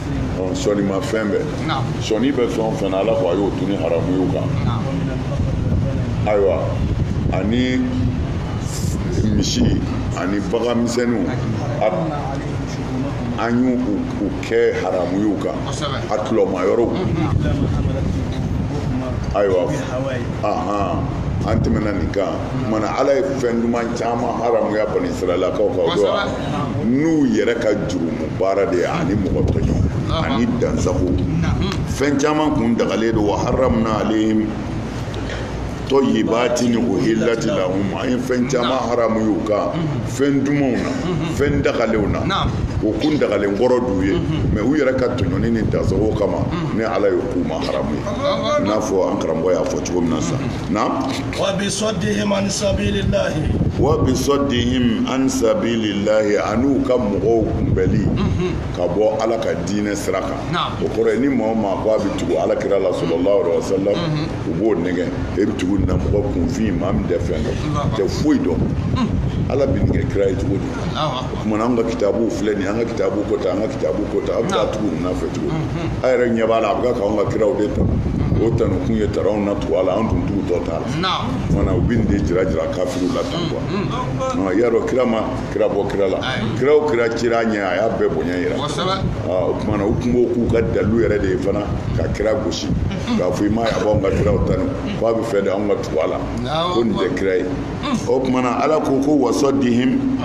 sɔnima fɛn bɛɛ sɔni bɛ fɛn o fɛn na ala ko a y'o dunni haramuya u kan ayiwa ani misi ani bagan misɛnninw an y'u kɛn haramuya u kan a tuluma yɔrɔw ayiwa an tɛmɛna nin kan kumana ala ye fɛn duman caman haramuya bani israɛlakaw kan o don wa n'u yɛrɛ ka jurumu baara de ye ani mɔgɔ tɔɲɔ ani dansago fɛn caman kun dagalen don wa haramna alaihim tɔyibatin uhillat lahum an ye fɛn caman haramuya u kan fɛn dumanw na fɛn dagalenw na o kun dagalen kɔrɔ d'u ye mɛ u yɛrɛ ka tɔɲɔni ni dansago kama ni ala y'o k'u ma haramu ye i n'a fɔ an karamɔgɔ y'a fɔ cogo min na sisan na wa bi saddihim an sabilillahi an'u ka mɔgɔw kunbɛli mhm. ka bɔ ala ka diinɛ sira kan o kɔrɔ ye ni maa o maa ko a bɛ tugu ala kira la sallallahu alaihi wa sallam mhm. u b'o nɛgɛ e bɛ tugu nin na mɔgɔ kunfin maa min tɛ fɛn dɔn tɛ foyi dɔn mhm. ala bɛ nin kɛ kira ye cogo di kumana an ka kitabuw filɛ nin an ka kitabu ko ta an ka kitabu ko ta a bɛ taa tugu ninnu fɛ cogo mhm. a yɛrɛ ɲɛ b'a la a bɛ k'anw ka kiraw de ta mhm. o tanu kun ye taranw na tugu a la an dun tugutɔ t'a la kumana u bɛ nin de jira jira kafiriw la tan kuwa mhm. i y'a dɔn kira ma kira bɔ kira la kira o kira cira a ɲɛ a y'a bɛɛ bonya yira o kumana u tun b'o k'u ka dalilu yɛrɛ de ye fana ka kira gosi k'a fɔ i m'a ye a b'anw ka kiraw tanu k'a b'a fɛ de anw ka tugu a la ko nin tɛ kira ye o tumana ala ko ko wa saddihim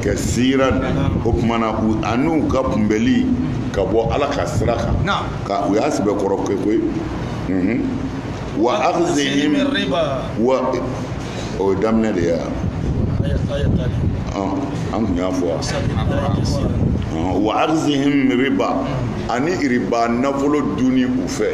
kasiran o tumana an'u ka kunbɛli ka bɔ ala ka sira kan ko u y'a sɛbɛkɔrɔ kɛ koyi wa akhzihim wa o ye daminɛ de ye an kun y'a fɔ wa akhzihim riba ani riba nafolo dunni u fɛ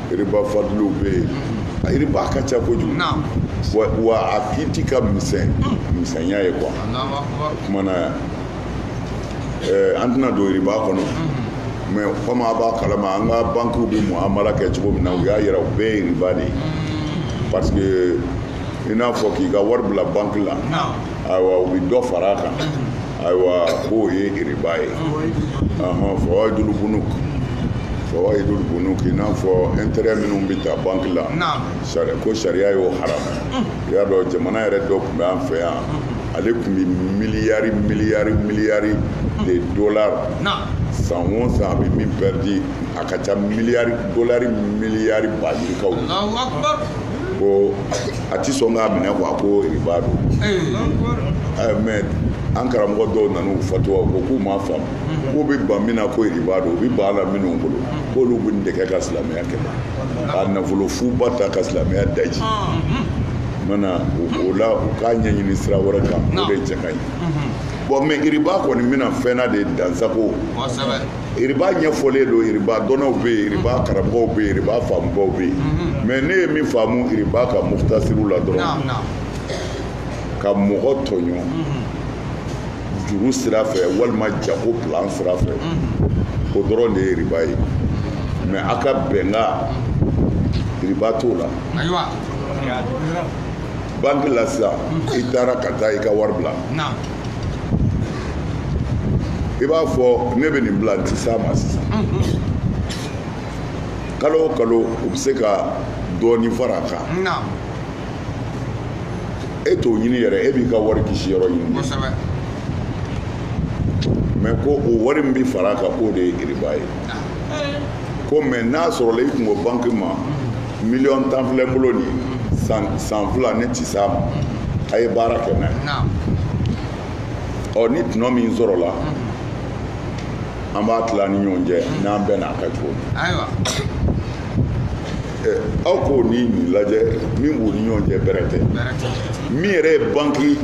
Iriba fadliw bɛ yen a iriba ka ca kojugu wa a kiti ka misɛn hmm. misɛnya ye quoi kumana yan eh, an tɛna don iriba kɔnɔ hmm. mais komi a b'a kalama an ka bankiw bɛ muamala kɛ cogo min na u y'a yira u bɛɛ ye iriba de ye hmm. parce que i n'a fɔ k'i ka wari bila banki la ayiwa u bɛ dɔ fara a kan ayiwa k'o ye iriba ye fawaidul bunuk fawaidul bunuk i n'a fɔ intérêt minnu bɛ ta banque la ko sariya y'o haramu i y'a dɔn jamana yɛrɛ dɔ tun bɛ an fɛ yan ale tun bɛ miliyari miliyari miliyari de dollars san o san a bɛ min pɛridi a ka ca miliyari dolari miliyari ba yirikaw ko a tɛ sɔn k'a minɛ quoi ko riba don mais an karamɔgɔ dɔw nana u fatuwa ko k'u m'a faamu k'u bɛ ban min na ko riba don u bɛ ban a la minnu bolo k'olu bɛ nin de kɛ ka silamɛya kɛlɛ ka nafolo fuba ta ka silamɛya daji mana o la u k'a ɲɛɲini sira wɛrɛ kan o de cɛ ka ɲi bon mais riba kɔni bɛna fɛn na de dansago Iriba ɲɛfɔlen don iriba dɔnnaw bɛ yen iriba karamɔgɔw bɛ yen iriba faamubaw bɛ yen mhm. mais ne ye min faamu iriba ka muktasiri la dɔrɔn ka mɔgɔ tɔɲɔ mhm. juru sira fɛ walima jago plan sira fɛ mhm. o dɔrɔn de ye iriba ye mais aw ka bɛnkan iriba t'o la banki la sisan i taara ka taa i ka wari bila i b'a fɔ ne bɛ nin bila n tɛ s'a ma sisan kalo o kalo u bɛ se ka dɔɔnin fara a kan e t'o ɲini yɛrɛ e b'i ka wari kisi yɔrɔ ɲini mais ko o wari min bɛ fara a kan k'o de ye iriba ye ko mais n'a sɔrɔla i kun ko banki ma miliyɔn tan filɛ n bolo nin san fila ne ti s'a ma a ye baara kɛ n'a ye naam ɔ ni tɔnɔ min sɔrɔla an b'a tila ni ɲɔgɔn cɛ n'an bɛnn'a kan cogo min ayiwa Eh, aw k'o ni nin lajɛ min b'u ni ɲɔgɔn cɛ bɛrɛ tɛ bɛrɛ tɛ min yɛrɛ ye banki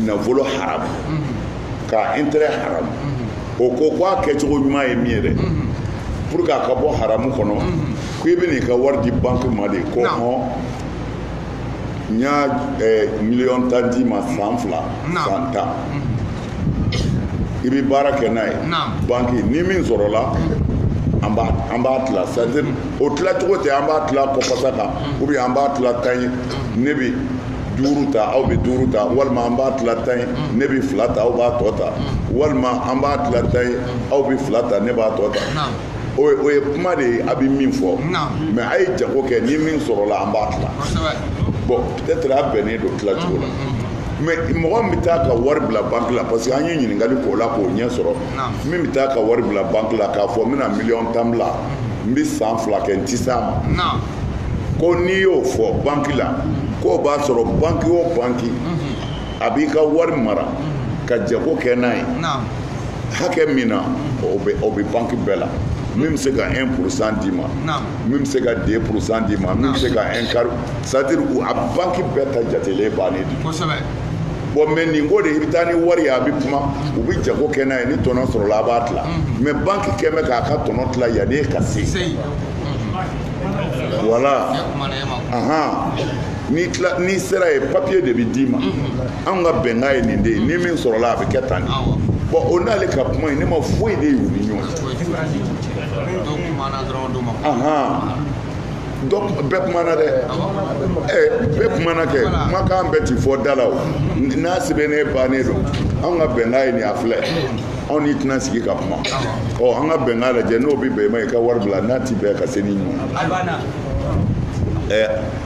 nafolo haramu ka intérêt haramu o ko ko a kɛcogo ɲuman ye min ye dɛ pour que a ka bɔ haramu kɔnɔ ko i bɛna i ka wari di banki ma de ko hɔn n y'a eh, miliyɔn tan d'i ma san fila san tan i bɛ baara kɛ n'a ye banki ni min sɔrɔla an b'a an b'a tila c'est-à-dire o tilacogo tɛ an b'a tila kɔfasa kan ou bien an b'a tila tan ye ne bɛ duuru ta aw bɛ duuru ta walima an b'a tila tan ye ne bɛ fila ta aw b'a tɔ ta walima an b'a tila tan ye aw bɛ fila ta ne b'a tɔ ta o ye o ye kuma de ye a bɛ min fɔ mais a ye jago kɛ ni min sɔrɔla an b'a tila bon peut-être a bɛnnen don tila cogo la mais mɔgɔ min bɛ taa ka wari bila banki la parce que an ye ɲininkali k'o la k'o ɲɛ sɔrɔ min bɛ taa ka wari bila banki la k'a fɔ n bɛna miliyɔn tan bila n bɛ san fila kɛ n ti s'a ma ko n'i y'o fɔ banki la k'o b'a sɔrɔ banki o banki a b'i ka wari mara ka jago kɛ n'a ye hakɛ min na o bɛ banki bɛɛ la min bɛ se ka 1 pourcent d'i ma min bɛ se ka 2 pourcent d'i ma min bɛ se ka 1 quart c'est à dire a banki bɛɛ ta jatelen bannen de bon mais nin ko de i bɛ taa ni wari ye a bɛ kuma u bɛ jago kɛ n'a ye ni tɔnɔ sɔrɔla a b'a tila mais banki kɛ bɛ k'a ka tɔnɔ tila yanni e ka se voilà ahan n'i tila n'i sera ye papiye de bɛ d'i ma anw ka bɛnkan ye nin de ye ni min sɔrɔla a bɛ kɛ tan de bon o n'ale ka kuma in ne ma foyi de y'u ni ɲɔgɔn cɛ donc bɛɛ kumana dɛ bɛɛ kumana kɛ kumakan bɛɛ ti fɔ da la o n'a sɛbɛnnen bannen don anw ka bɛnkan ye nin a filɛ anw n'i tɛna sigi ka kuma ɔ an ka bɛnkan lajɛ n'o bɛ bɛn i ma i ka wari bila n'a ti bɛn ka se ni ɲɔgɔn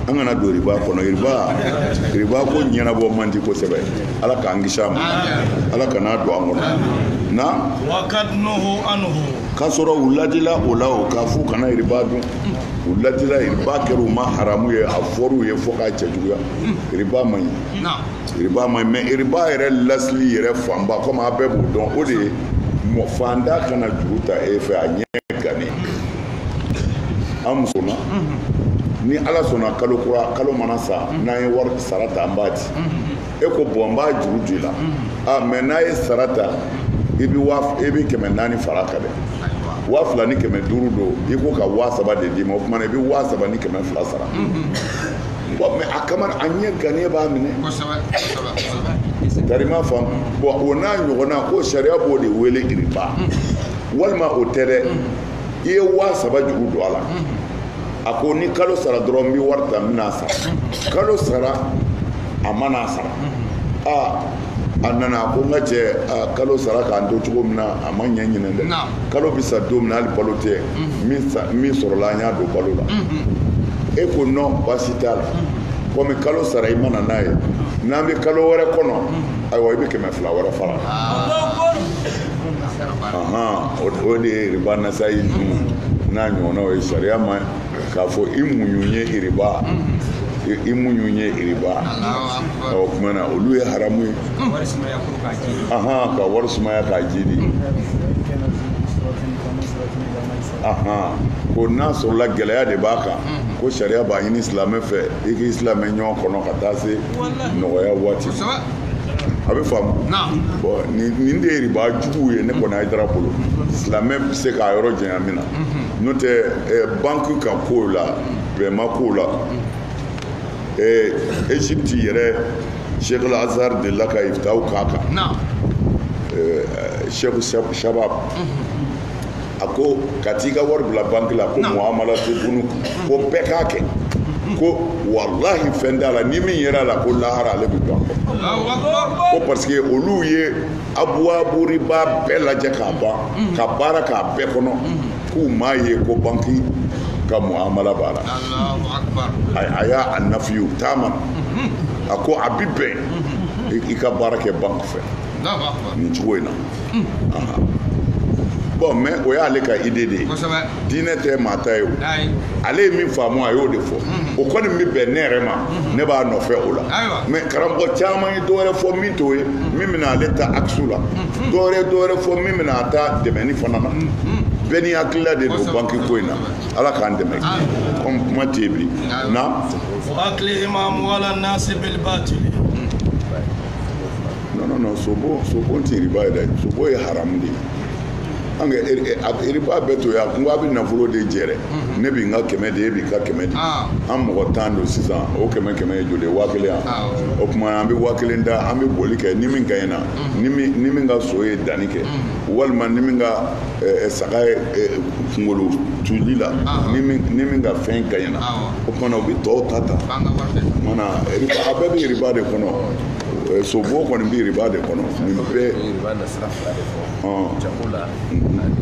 an kana don riba kɔnɔ riba riba ko ɲɛnabɔ man di kosɛbɛ ala k'an kisi a ma ala kana don an kɔnɔ na k'a sɔrɔ u ladila o la o k'a f'u kana riba dun u ladila riba kɛra u ma haramu ye a fɔr'u ye fo k'a cɛjuguya riba man ɲi riba man ɲi mais riba yɛrɛ lasili yɛrɛ fanba komi a bɛɛ b'o dɔn o de ye faantan ka na juru ta e fɛ a ɲɛ gannen an muso na ni ala sɔnna kalo kura kalo mana sa n'an ye wari sara ta an b'a di e ko bon n b'a juru d'i la mais n'a ye sara ta i bɛ kɛmɛ naani fara kan dɛ waa fila ni kɛmɛ duuru don i ko ka waa saba de d'i ma o tuma na i bɛ waa saba ni kɛmɛ fila sara bon mais a kama a ɲɛ gannen b'a minɛ ta i m'a faamu bon o n'a ɲɔgɔnna ko sariya b'o de wele riba walima o tɛ dɛ i ye waa saba juru don a la a ko ni kalo sara dɔrɔn n bɛ wari ta n bɛna a sara kalo sara a ma na a sara aa a nana a ko n ka cɛ kalo sara k'an to cogo min na a ma ɲɛ ɲinɛ dɛ kalo bɛ sa don min na hali balo tɛ min sɔrɔla an y'a don balo la e ko non baasi t'a la komi kalo sara i ma na n'a ye n'an bɛ kalo wɛrɛ kɔnɔ ayiwa i bɛ kɛmɛ fila wɛrɛ fara o de ye riba nasayi dun n'a ɲɔgɔnnaw ye sariya ma k'a fɔ i muɲu ye riba i muɲu ye riba o tuma na olu ye haramu ye ka wari sumaya k'a jiidi ko n'a sɔrɔla gɛlɛya de b'a kan ko sariya b'a ɲini silamɛ fɛ i k'i silamɛ ɲɔgɔn kɔnɔ ka taa se nɔgɔya waati a bɛ faamu bon nin de ye riba jugu ye ne kɔni hayidara bolo silamɛ bɛ se k'a yɔrɔ janya min na n'o tɛ eh, banki ka kow la bɛnma kow la eh, egypte yɛrɛ sheikh azhar de la ka ifitaw k'a kan eh, sheikh shabab mhm. a ko ka t'i ka wari bila banki la ko muhamala tayibun ko bɛɛ k'a kɛ ko walahi fɛn t'a la ni min yera a la ko lahara ale bɛ don a kɔ parce que olu ye abuwabu riba bɛɛ lajɛ k'a ban mm. ka baara k'a bɛɛ kɔnɔ mm. k'u m'a ye ko banki ka muhamala b'a la a y'a a nafiyu taama mm-hmm. a ko a bi bɛn mm-hmm. i ka baara kɛ banki fɛ nin cogo in na bon mais o y'ale ka idée de ye diinɛ tɛ maa ta ye o ale ye min faamu a y'o de fɔ o kɔni bɛ bɛn ne yɛrɛ ma ne b'a nɔfɛ o la mais karamɔgɔ caman ye dɔwɛrɛ fɔ min t'o ye min bɛna ale ta akisu la dɔwɛrɛ dɔwɛrɛ fɔ min bɛna a ta dɛmɛni fana na bɛɛ n'i hakilila de don banki ko in na ala k'an dɛmɛ comme kuma tɛ yen bi na. non non sobo sobo tɛ riba ye dɛ sobo ye haramu de ye an ka er, er, riba bɛɛ to yan n ko a bɛ nafolo de jɛ dɛ mhm. ne bɛ n ka kɛmɛ di e b'i ka kɛmɛ di ah. an mɔgɔ tan don sisan o kɛmɛ kɛmɛ ye joli ye waa kelen yan ah, o tuma an bɛ waa kelen da an bɛ boli kɛ ni min gaɲɛna mhm. ni min ka so ye danni kɛ mhm. walima ni min ka eh, eh, saga ye eh, kunkolo tuli la ah. ni min ka fɛn gaɲɛna o tuma na o bɛ tɔw ta ta o tuma na a bɛɛ bɛ riba de kɔnɔ. Eh, sobo kɔni bɛ riba de kɔnɔ nin bɛɛ riba na sira fila de fɔ jago la ani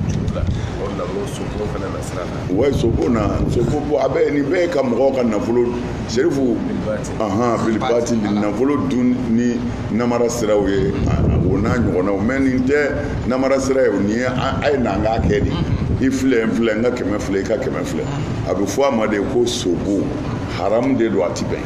juru la o na o sobo fana na sira la wa sobo na sobo bɔ a bɛ nin bɛɛ ka mɔgɔw ka nafolo serifu ahan bilibati nafolo dun ni namara siraw ye o n'a ɲɔgɔnnaw mais nin tɛ namara sira ye nin ye a ye n'an k'a kɛ de i filɛ n filɛ n ka kɛmɛ filɛ i ka kɛmɛ filɛ a bɛ fɔ a ma de ko sobo haramu de don a ti bɛn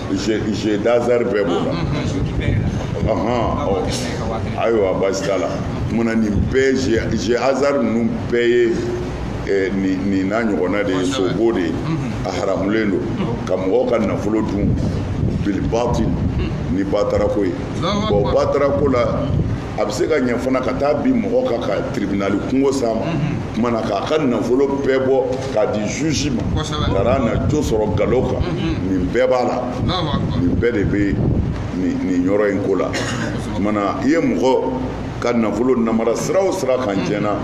jeu d'hasard bɛɛ b'o la ayiwa baasi t'a la maana nin bɛɛ jeu hasard ninnu bɛɛ ye eh, nin n'a ɲɔgɔnna de ye sobo de ye a haramulen don ka mɔgɔw ka nafolo dun bilibati ni batarako ye bon batarako la a bɛ se ka ɲɛ fana ka taa bin mɔgɔ kan ka tribunali kungo s'a ma tuma na k'a ka nafolo bɛɛ bɔ k'a di juge ma Kosɛbɛ. ka na jo sɔrɔ galo kan nin bɛɛ b'a la Allahu akbar. nin bɛɛ de bɛ nin yɔrɔ in ko la tuma na i ye mɔgɔ ka nafolo namara sira o sira kan tiɲɛna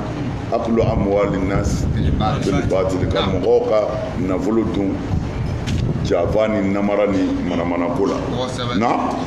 akulu amuwali nasi bilibatili ka mɔgɔw ka nafolo dun janfa ni namara ni manamanako la Kosɛbɛ. na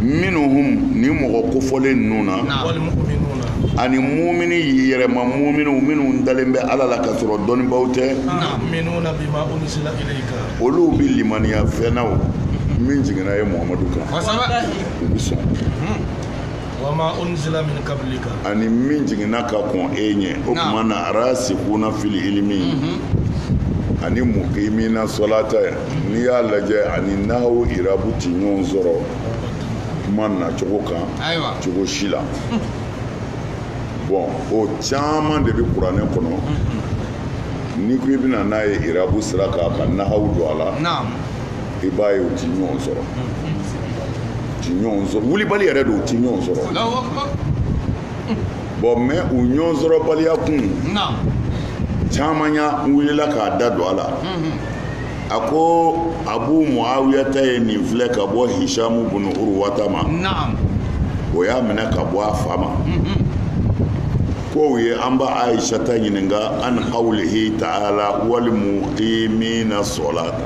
minnuhum ni mɔgɔ kofɔlen ninnu na ani mumini yɛrɛma muminiw minnu dalen bɛ ala la ka sɔrɔ dɔnnibaaw tɛ olu bɛ limaniya fɛn na min jiginna e muhamadu kan u bɛ sɔn ani min jiginna ka kɔn e ɲɛ o tuma na arasikuna fil ilimi mhm. ani mukimina sɔlata n'i y'a lajɛ ani nahawu irabu ti ɲɔgɔn sɔrɔ kuma nacogo kan cogo si la bon o caman de bɛ kuranɛ kɔnɔ mhm. n'i ko i bɛ na n'a ye irabu sira kan ka nahawu don a la i b'a ye u ti ɲɔgɔn sɔrɔ ti ɲɔgɔn sɔrɔ wulibali yɛrɛ don u ti ɲɔgɔn sɔrɔ bon mais u ɲɔgɔn sɔrɔbaliya kun caman ya n wulila k'a da don a la a ko abu muawiya ta ye nin filɛ ka bɔ hisamu bunu uruwata ma o y'a minɛ ka bɔ a fa ma ko u ye an ba ayisata ɲininka an qawlihi taala wal muqimina sɔlata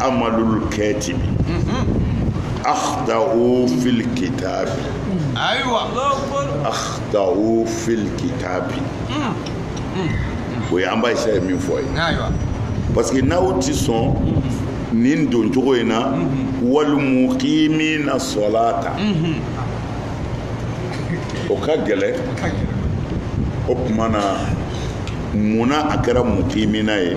amalul katibi akhtau fil kitabi ayiwa akhtau fil kitabi o ye an ba ayisa ye min fɔ ye ayiwa parce que n'aw ti sɔn nin don cogo in na wal muqimina sɔlata o ka gɛlɛn o tuma na munna a kɛra muqimina ye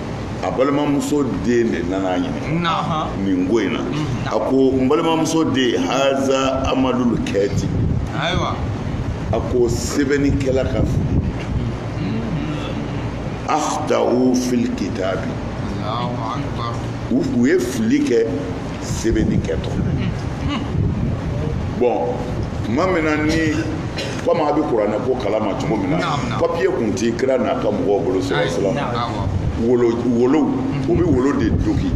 a balimamuso den de nana ɲini nin ko in na a ko n balimamuso den haza amalul kɛti a ko sɛbɛnnikɛla ka fili akhtau fil kitabi u ye fili kɛ sɛbɛnni kɛtɔ bon tuma min na ni komi a bɛ kuranɛ ko kalama cogo min na papiye kun ti kira n'a ka mɔgɔw bolo sɛbɛn wolo wolo u bɛ wolo de dogi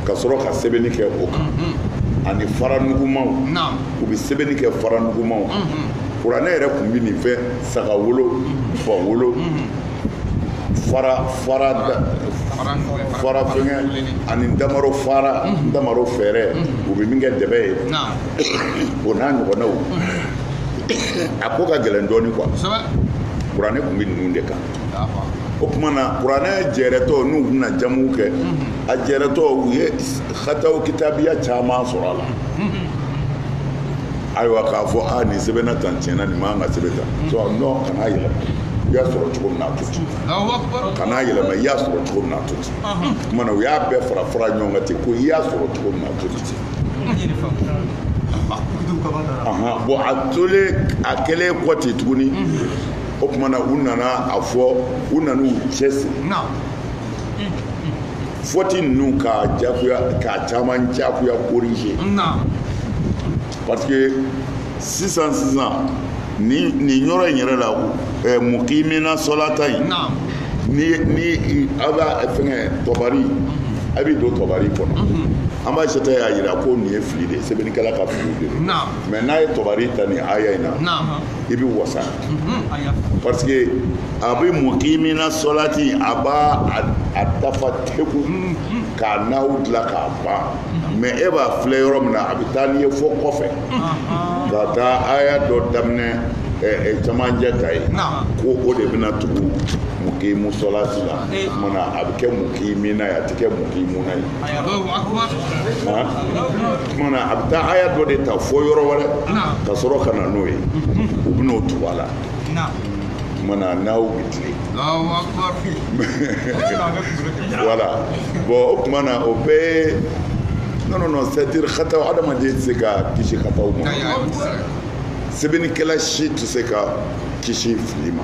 ka sɔrɔ ka sɛbɛnni kɛ o kan mm-hmm. ani fara nugumaw u bɛ sɛbɛnni kɛ fara nugumaw mm-hmm. kuranɛ yɛrɛ tun bɛ nin fɛn saga wolo mm-hmm. ba wolo fara fara fara fɛngɛ ani ntamaro fara ntamaro fɛɛrɛ u bɛ min kɛ dɛbɛ ye o n'a ɲɔgɔnnaw a ko ka gɛlɛn dɔɔnin quoi kuranɛ tun bɛ ninnu de kan o tuma na kuranɛ jɛrɛtɔ n'u bɛna jamu'u kɛ a jɛrɛtɔ u ye hataw kitabiya caman sɔrɔ a la ayiwa k'a fɔ nin sɛbɛnna tan tiɲɛ na nin man kan ka sɛbɛn tan non kana yɛlɛma i y'a sɔrɔ cogo min na a to ten kana yɛlɛma i y'a sɔrɔ cogo min na a to ten o kumana u y'a bɛɛ fara fara ɲɔgɔn kan ten ko i y'a sɔrɔ cogo min na a to ten bon a tolen a kɛlen kɔ ten tuguni o kumana u nana a fɔ u nan'u cɛsiri fɔti ninnu ka jakuya ka caman jakuya corriger parce que sisan sisan ni nin yɔrɔ in yɛrɛ la ɛ mukimina sɔlata in ni ni aw b'a fɛngɛ tɔbari a bɛ don tɔbari kɔnɔ an ba aisata y'a jira ko nin ye fili de ye sɛbɛnnikɛla ka fili de ye mais n'a ye tɔbari ta nin aya in na i bɛ wasa parce que a bɛ mukimina sɔlati a b'a a dafa teku k'a nahw dilan k'a ban mais e b'a filɛ yɔrɔ min na a bɛ taa n'i ye fɔ kɔfɛ ka taa aya dɔ daminɛ camancɛ ta ye ko o de bɛna tugu mukimu sɔlati la o kumana a bɛ kɛ mukimina ye a tɛ kɛ mukimuna ye kumana a bɛ taa aya dɔ de ta fɔ yɔrɔ wɛrɛ ka sɔrɔ ka na n'o ye u bɛ n'o tugu a la tumana nahw bɛ tilen voilà bon o tuma na o bɛɛ non non non c'est à dire hataw adamaden tɛ se ka kisi hataw ma sɛbɛnnikɛla si tɛ se ka kisi fili ma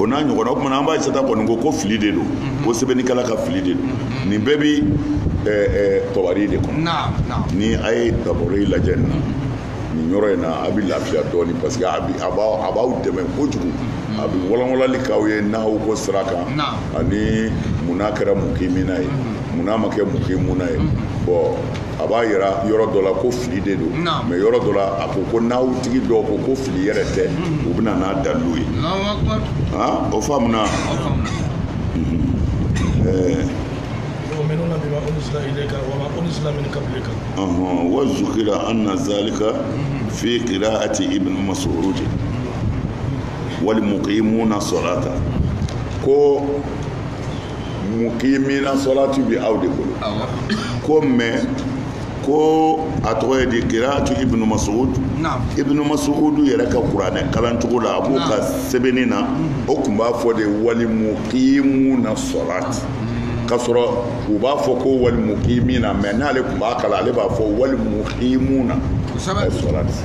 o n'a ɲɔgɔnna o kumana an ba aisata kɔni ko ko fili de don mhm. ko sɛbɛnnikɛla ka fili de don mhm. nin bɛɛ bi tɔbari de kɔnɔ ni a ye tɔbari lajɛ nin na mhm. nin yɔrɔ in na a bɛ lafiya dɔɔnin parce que a b'aw dɛmɛ kojugu a bɛ walawalali k'aw ye nahw ko sira kan ani mun n'a kɛra mukimina ye mun n'a ma kɛ mukimuna ye bon a b'a yira yɔrɔ dɔ la ko fili de don mais yɔrɔ dɔ la a ko ko nahw tigi dɔw ko ko fili yɛrɛ tɛ u bɛ na n'a dalilu ye o faamuna wa zukira anna zalika fi qira'ati ibn mas'ud wal muqimuna salata ko mukimina sɔlati bi aw de bolo ko mɛ ko a tɔgɔ ye di kiraatu ibnu masud ibnu masud yɛrɛ ka kuranɛ kalancogo la a b'o ka sɛbɛnni na o tun b'a fɔ de walimukimuna sɔlati ka sɔrɔ u b'a fɔ ko walimukimina mɛ n'ale tun b'a kalan ale b'a fɔ walimukimuna sɔlati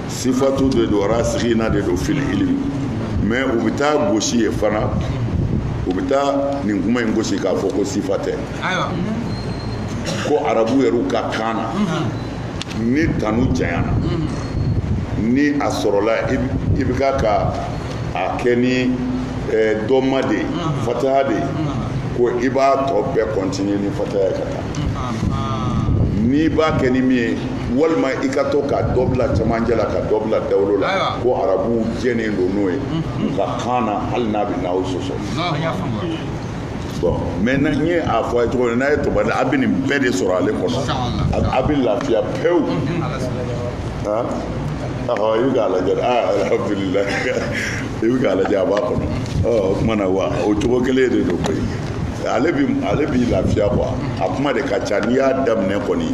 sifatu de don rasikina de don fili ilimi mɛ u bɛ taa gosi ye fana u bɛ taa nin kuma in gosi k'a fɔ ko sifa tɛ ko arabu yɛrɛw ka kan na mhm. ni tanu janyana mhm. ni a sɔrɔla i bɛ ka ka a kɛ ni eh, dɔma de ye mhm. fataha de ye ko i b'a tɔ bɛɛ kɔntiniye ni fataha ye ka taa n'i b'a kɛ ni min ye walima i ka to ka dɔ bila cɛmancɛ la ka dɔ bila dawolo la Ayiwa. ko arabuw jɛnen don n'o ye u ka kan na hali n'a bɛ nahawu sɔsɔ An y'a faamu. bon maintenant n ye a fɔ a ye cogo min n'a ye tɔbari a bɛ nin bɛɛ de sɔrɔ ale kɔnɔ A- a bɛ lafiya pewu han ɔhɔ i bɛ k'a lajɛ dɛ aa alhamdulilayi i bɛ k'a lajɛ a b'a kɔnɔ ɔ o tuma na wa o cogo kelen de don koyi ale bi ale b'i lafiya quoi a kuma de ka ca n'i y'a daminɛ kɔni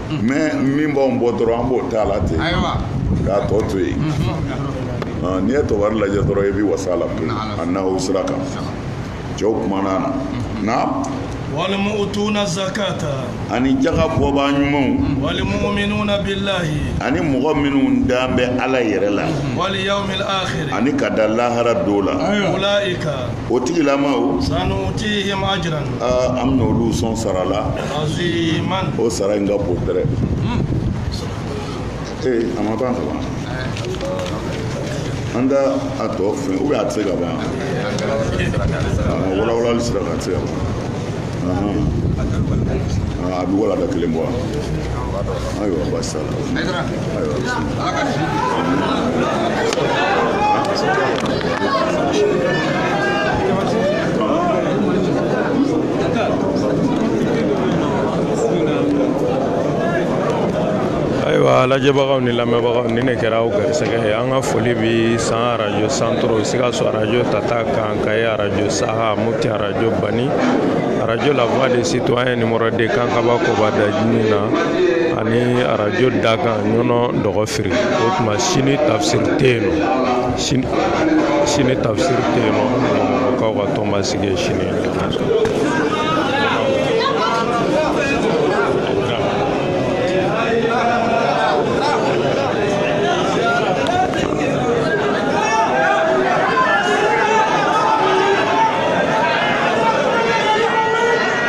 mɛ min b'anw bɔ dɔrɔn an b'o t'a la ten k'a tɔ to yen n'i ye tɔbari lajɛ dɔrɔn i bɛ wasa la pewu a nahawu sira kan cɛw kumana na na walimuutuna zakata ani jaga bɔbaa ɲumanw walimuminuna bilahi ani mɔgɔ minnu dan bɛ ala yɛrɛ la wali yawmil akhir ani ka da lahara don la ulaika o tigilamaw sanutihim ajran an bɛna olu sɔn sara la o sara in ka bon tɛrɛ ee a ma ban ka ban an da a tɔ fɛ ou bien a tɛ se ka ban a walawalali sira kan a tɛ se ka ban a bɛ walada kelen bɔ wa ayiwa basi t'a la ayiwa lajɛbagaw ni lamɛnbagaw ni ne kɛra aw garisɛgɛ ye an ka foli bi san arajo santoro sikaso arajo tata kan kaye arajo saha moti arajo bani arajo la voix des citoyens numéro 2 kankaba kobada jini na ani arajo dakan ɲɔnɔ dɔgɔfiri o tuma sini tafsiri tɛ yen nɔ sini sini tafsiri tɛ yen nɔ mɔgɔkaw ka tɔnba sigi ye sini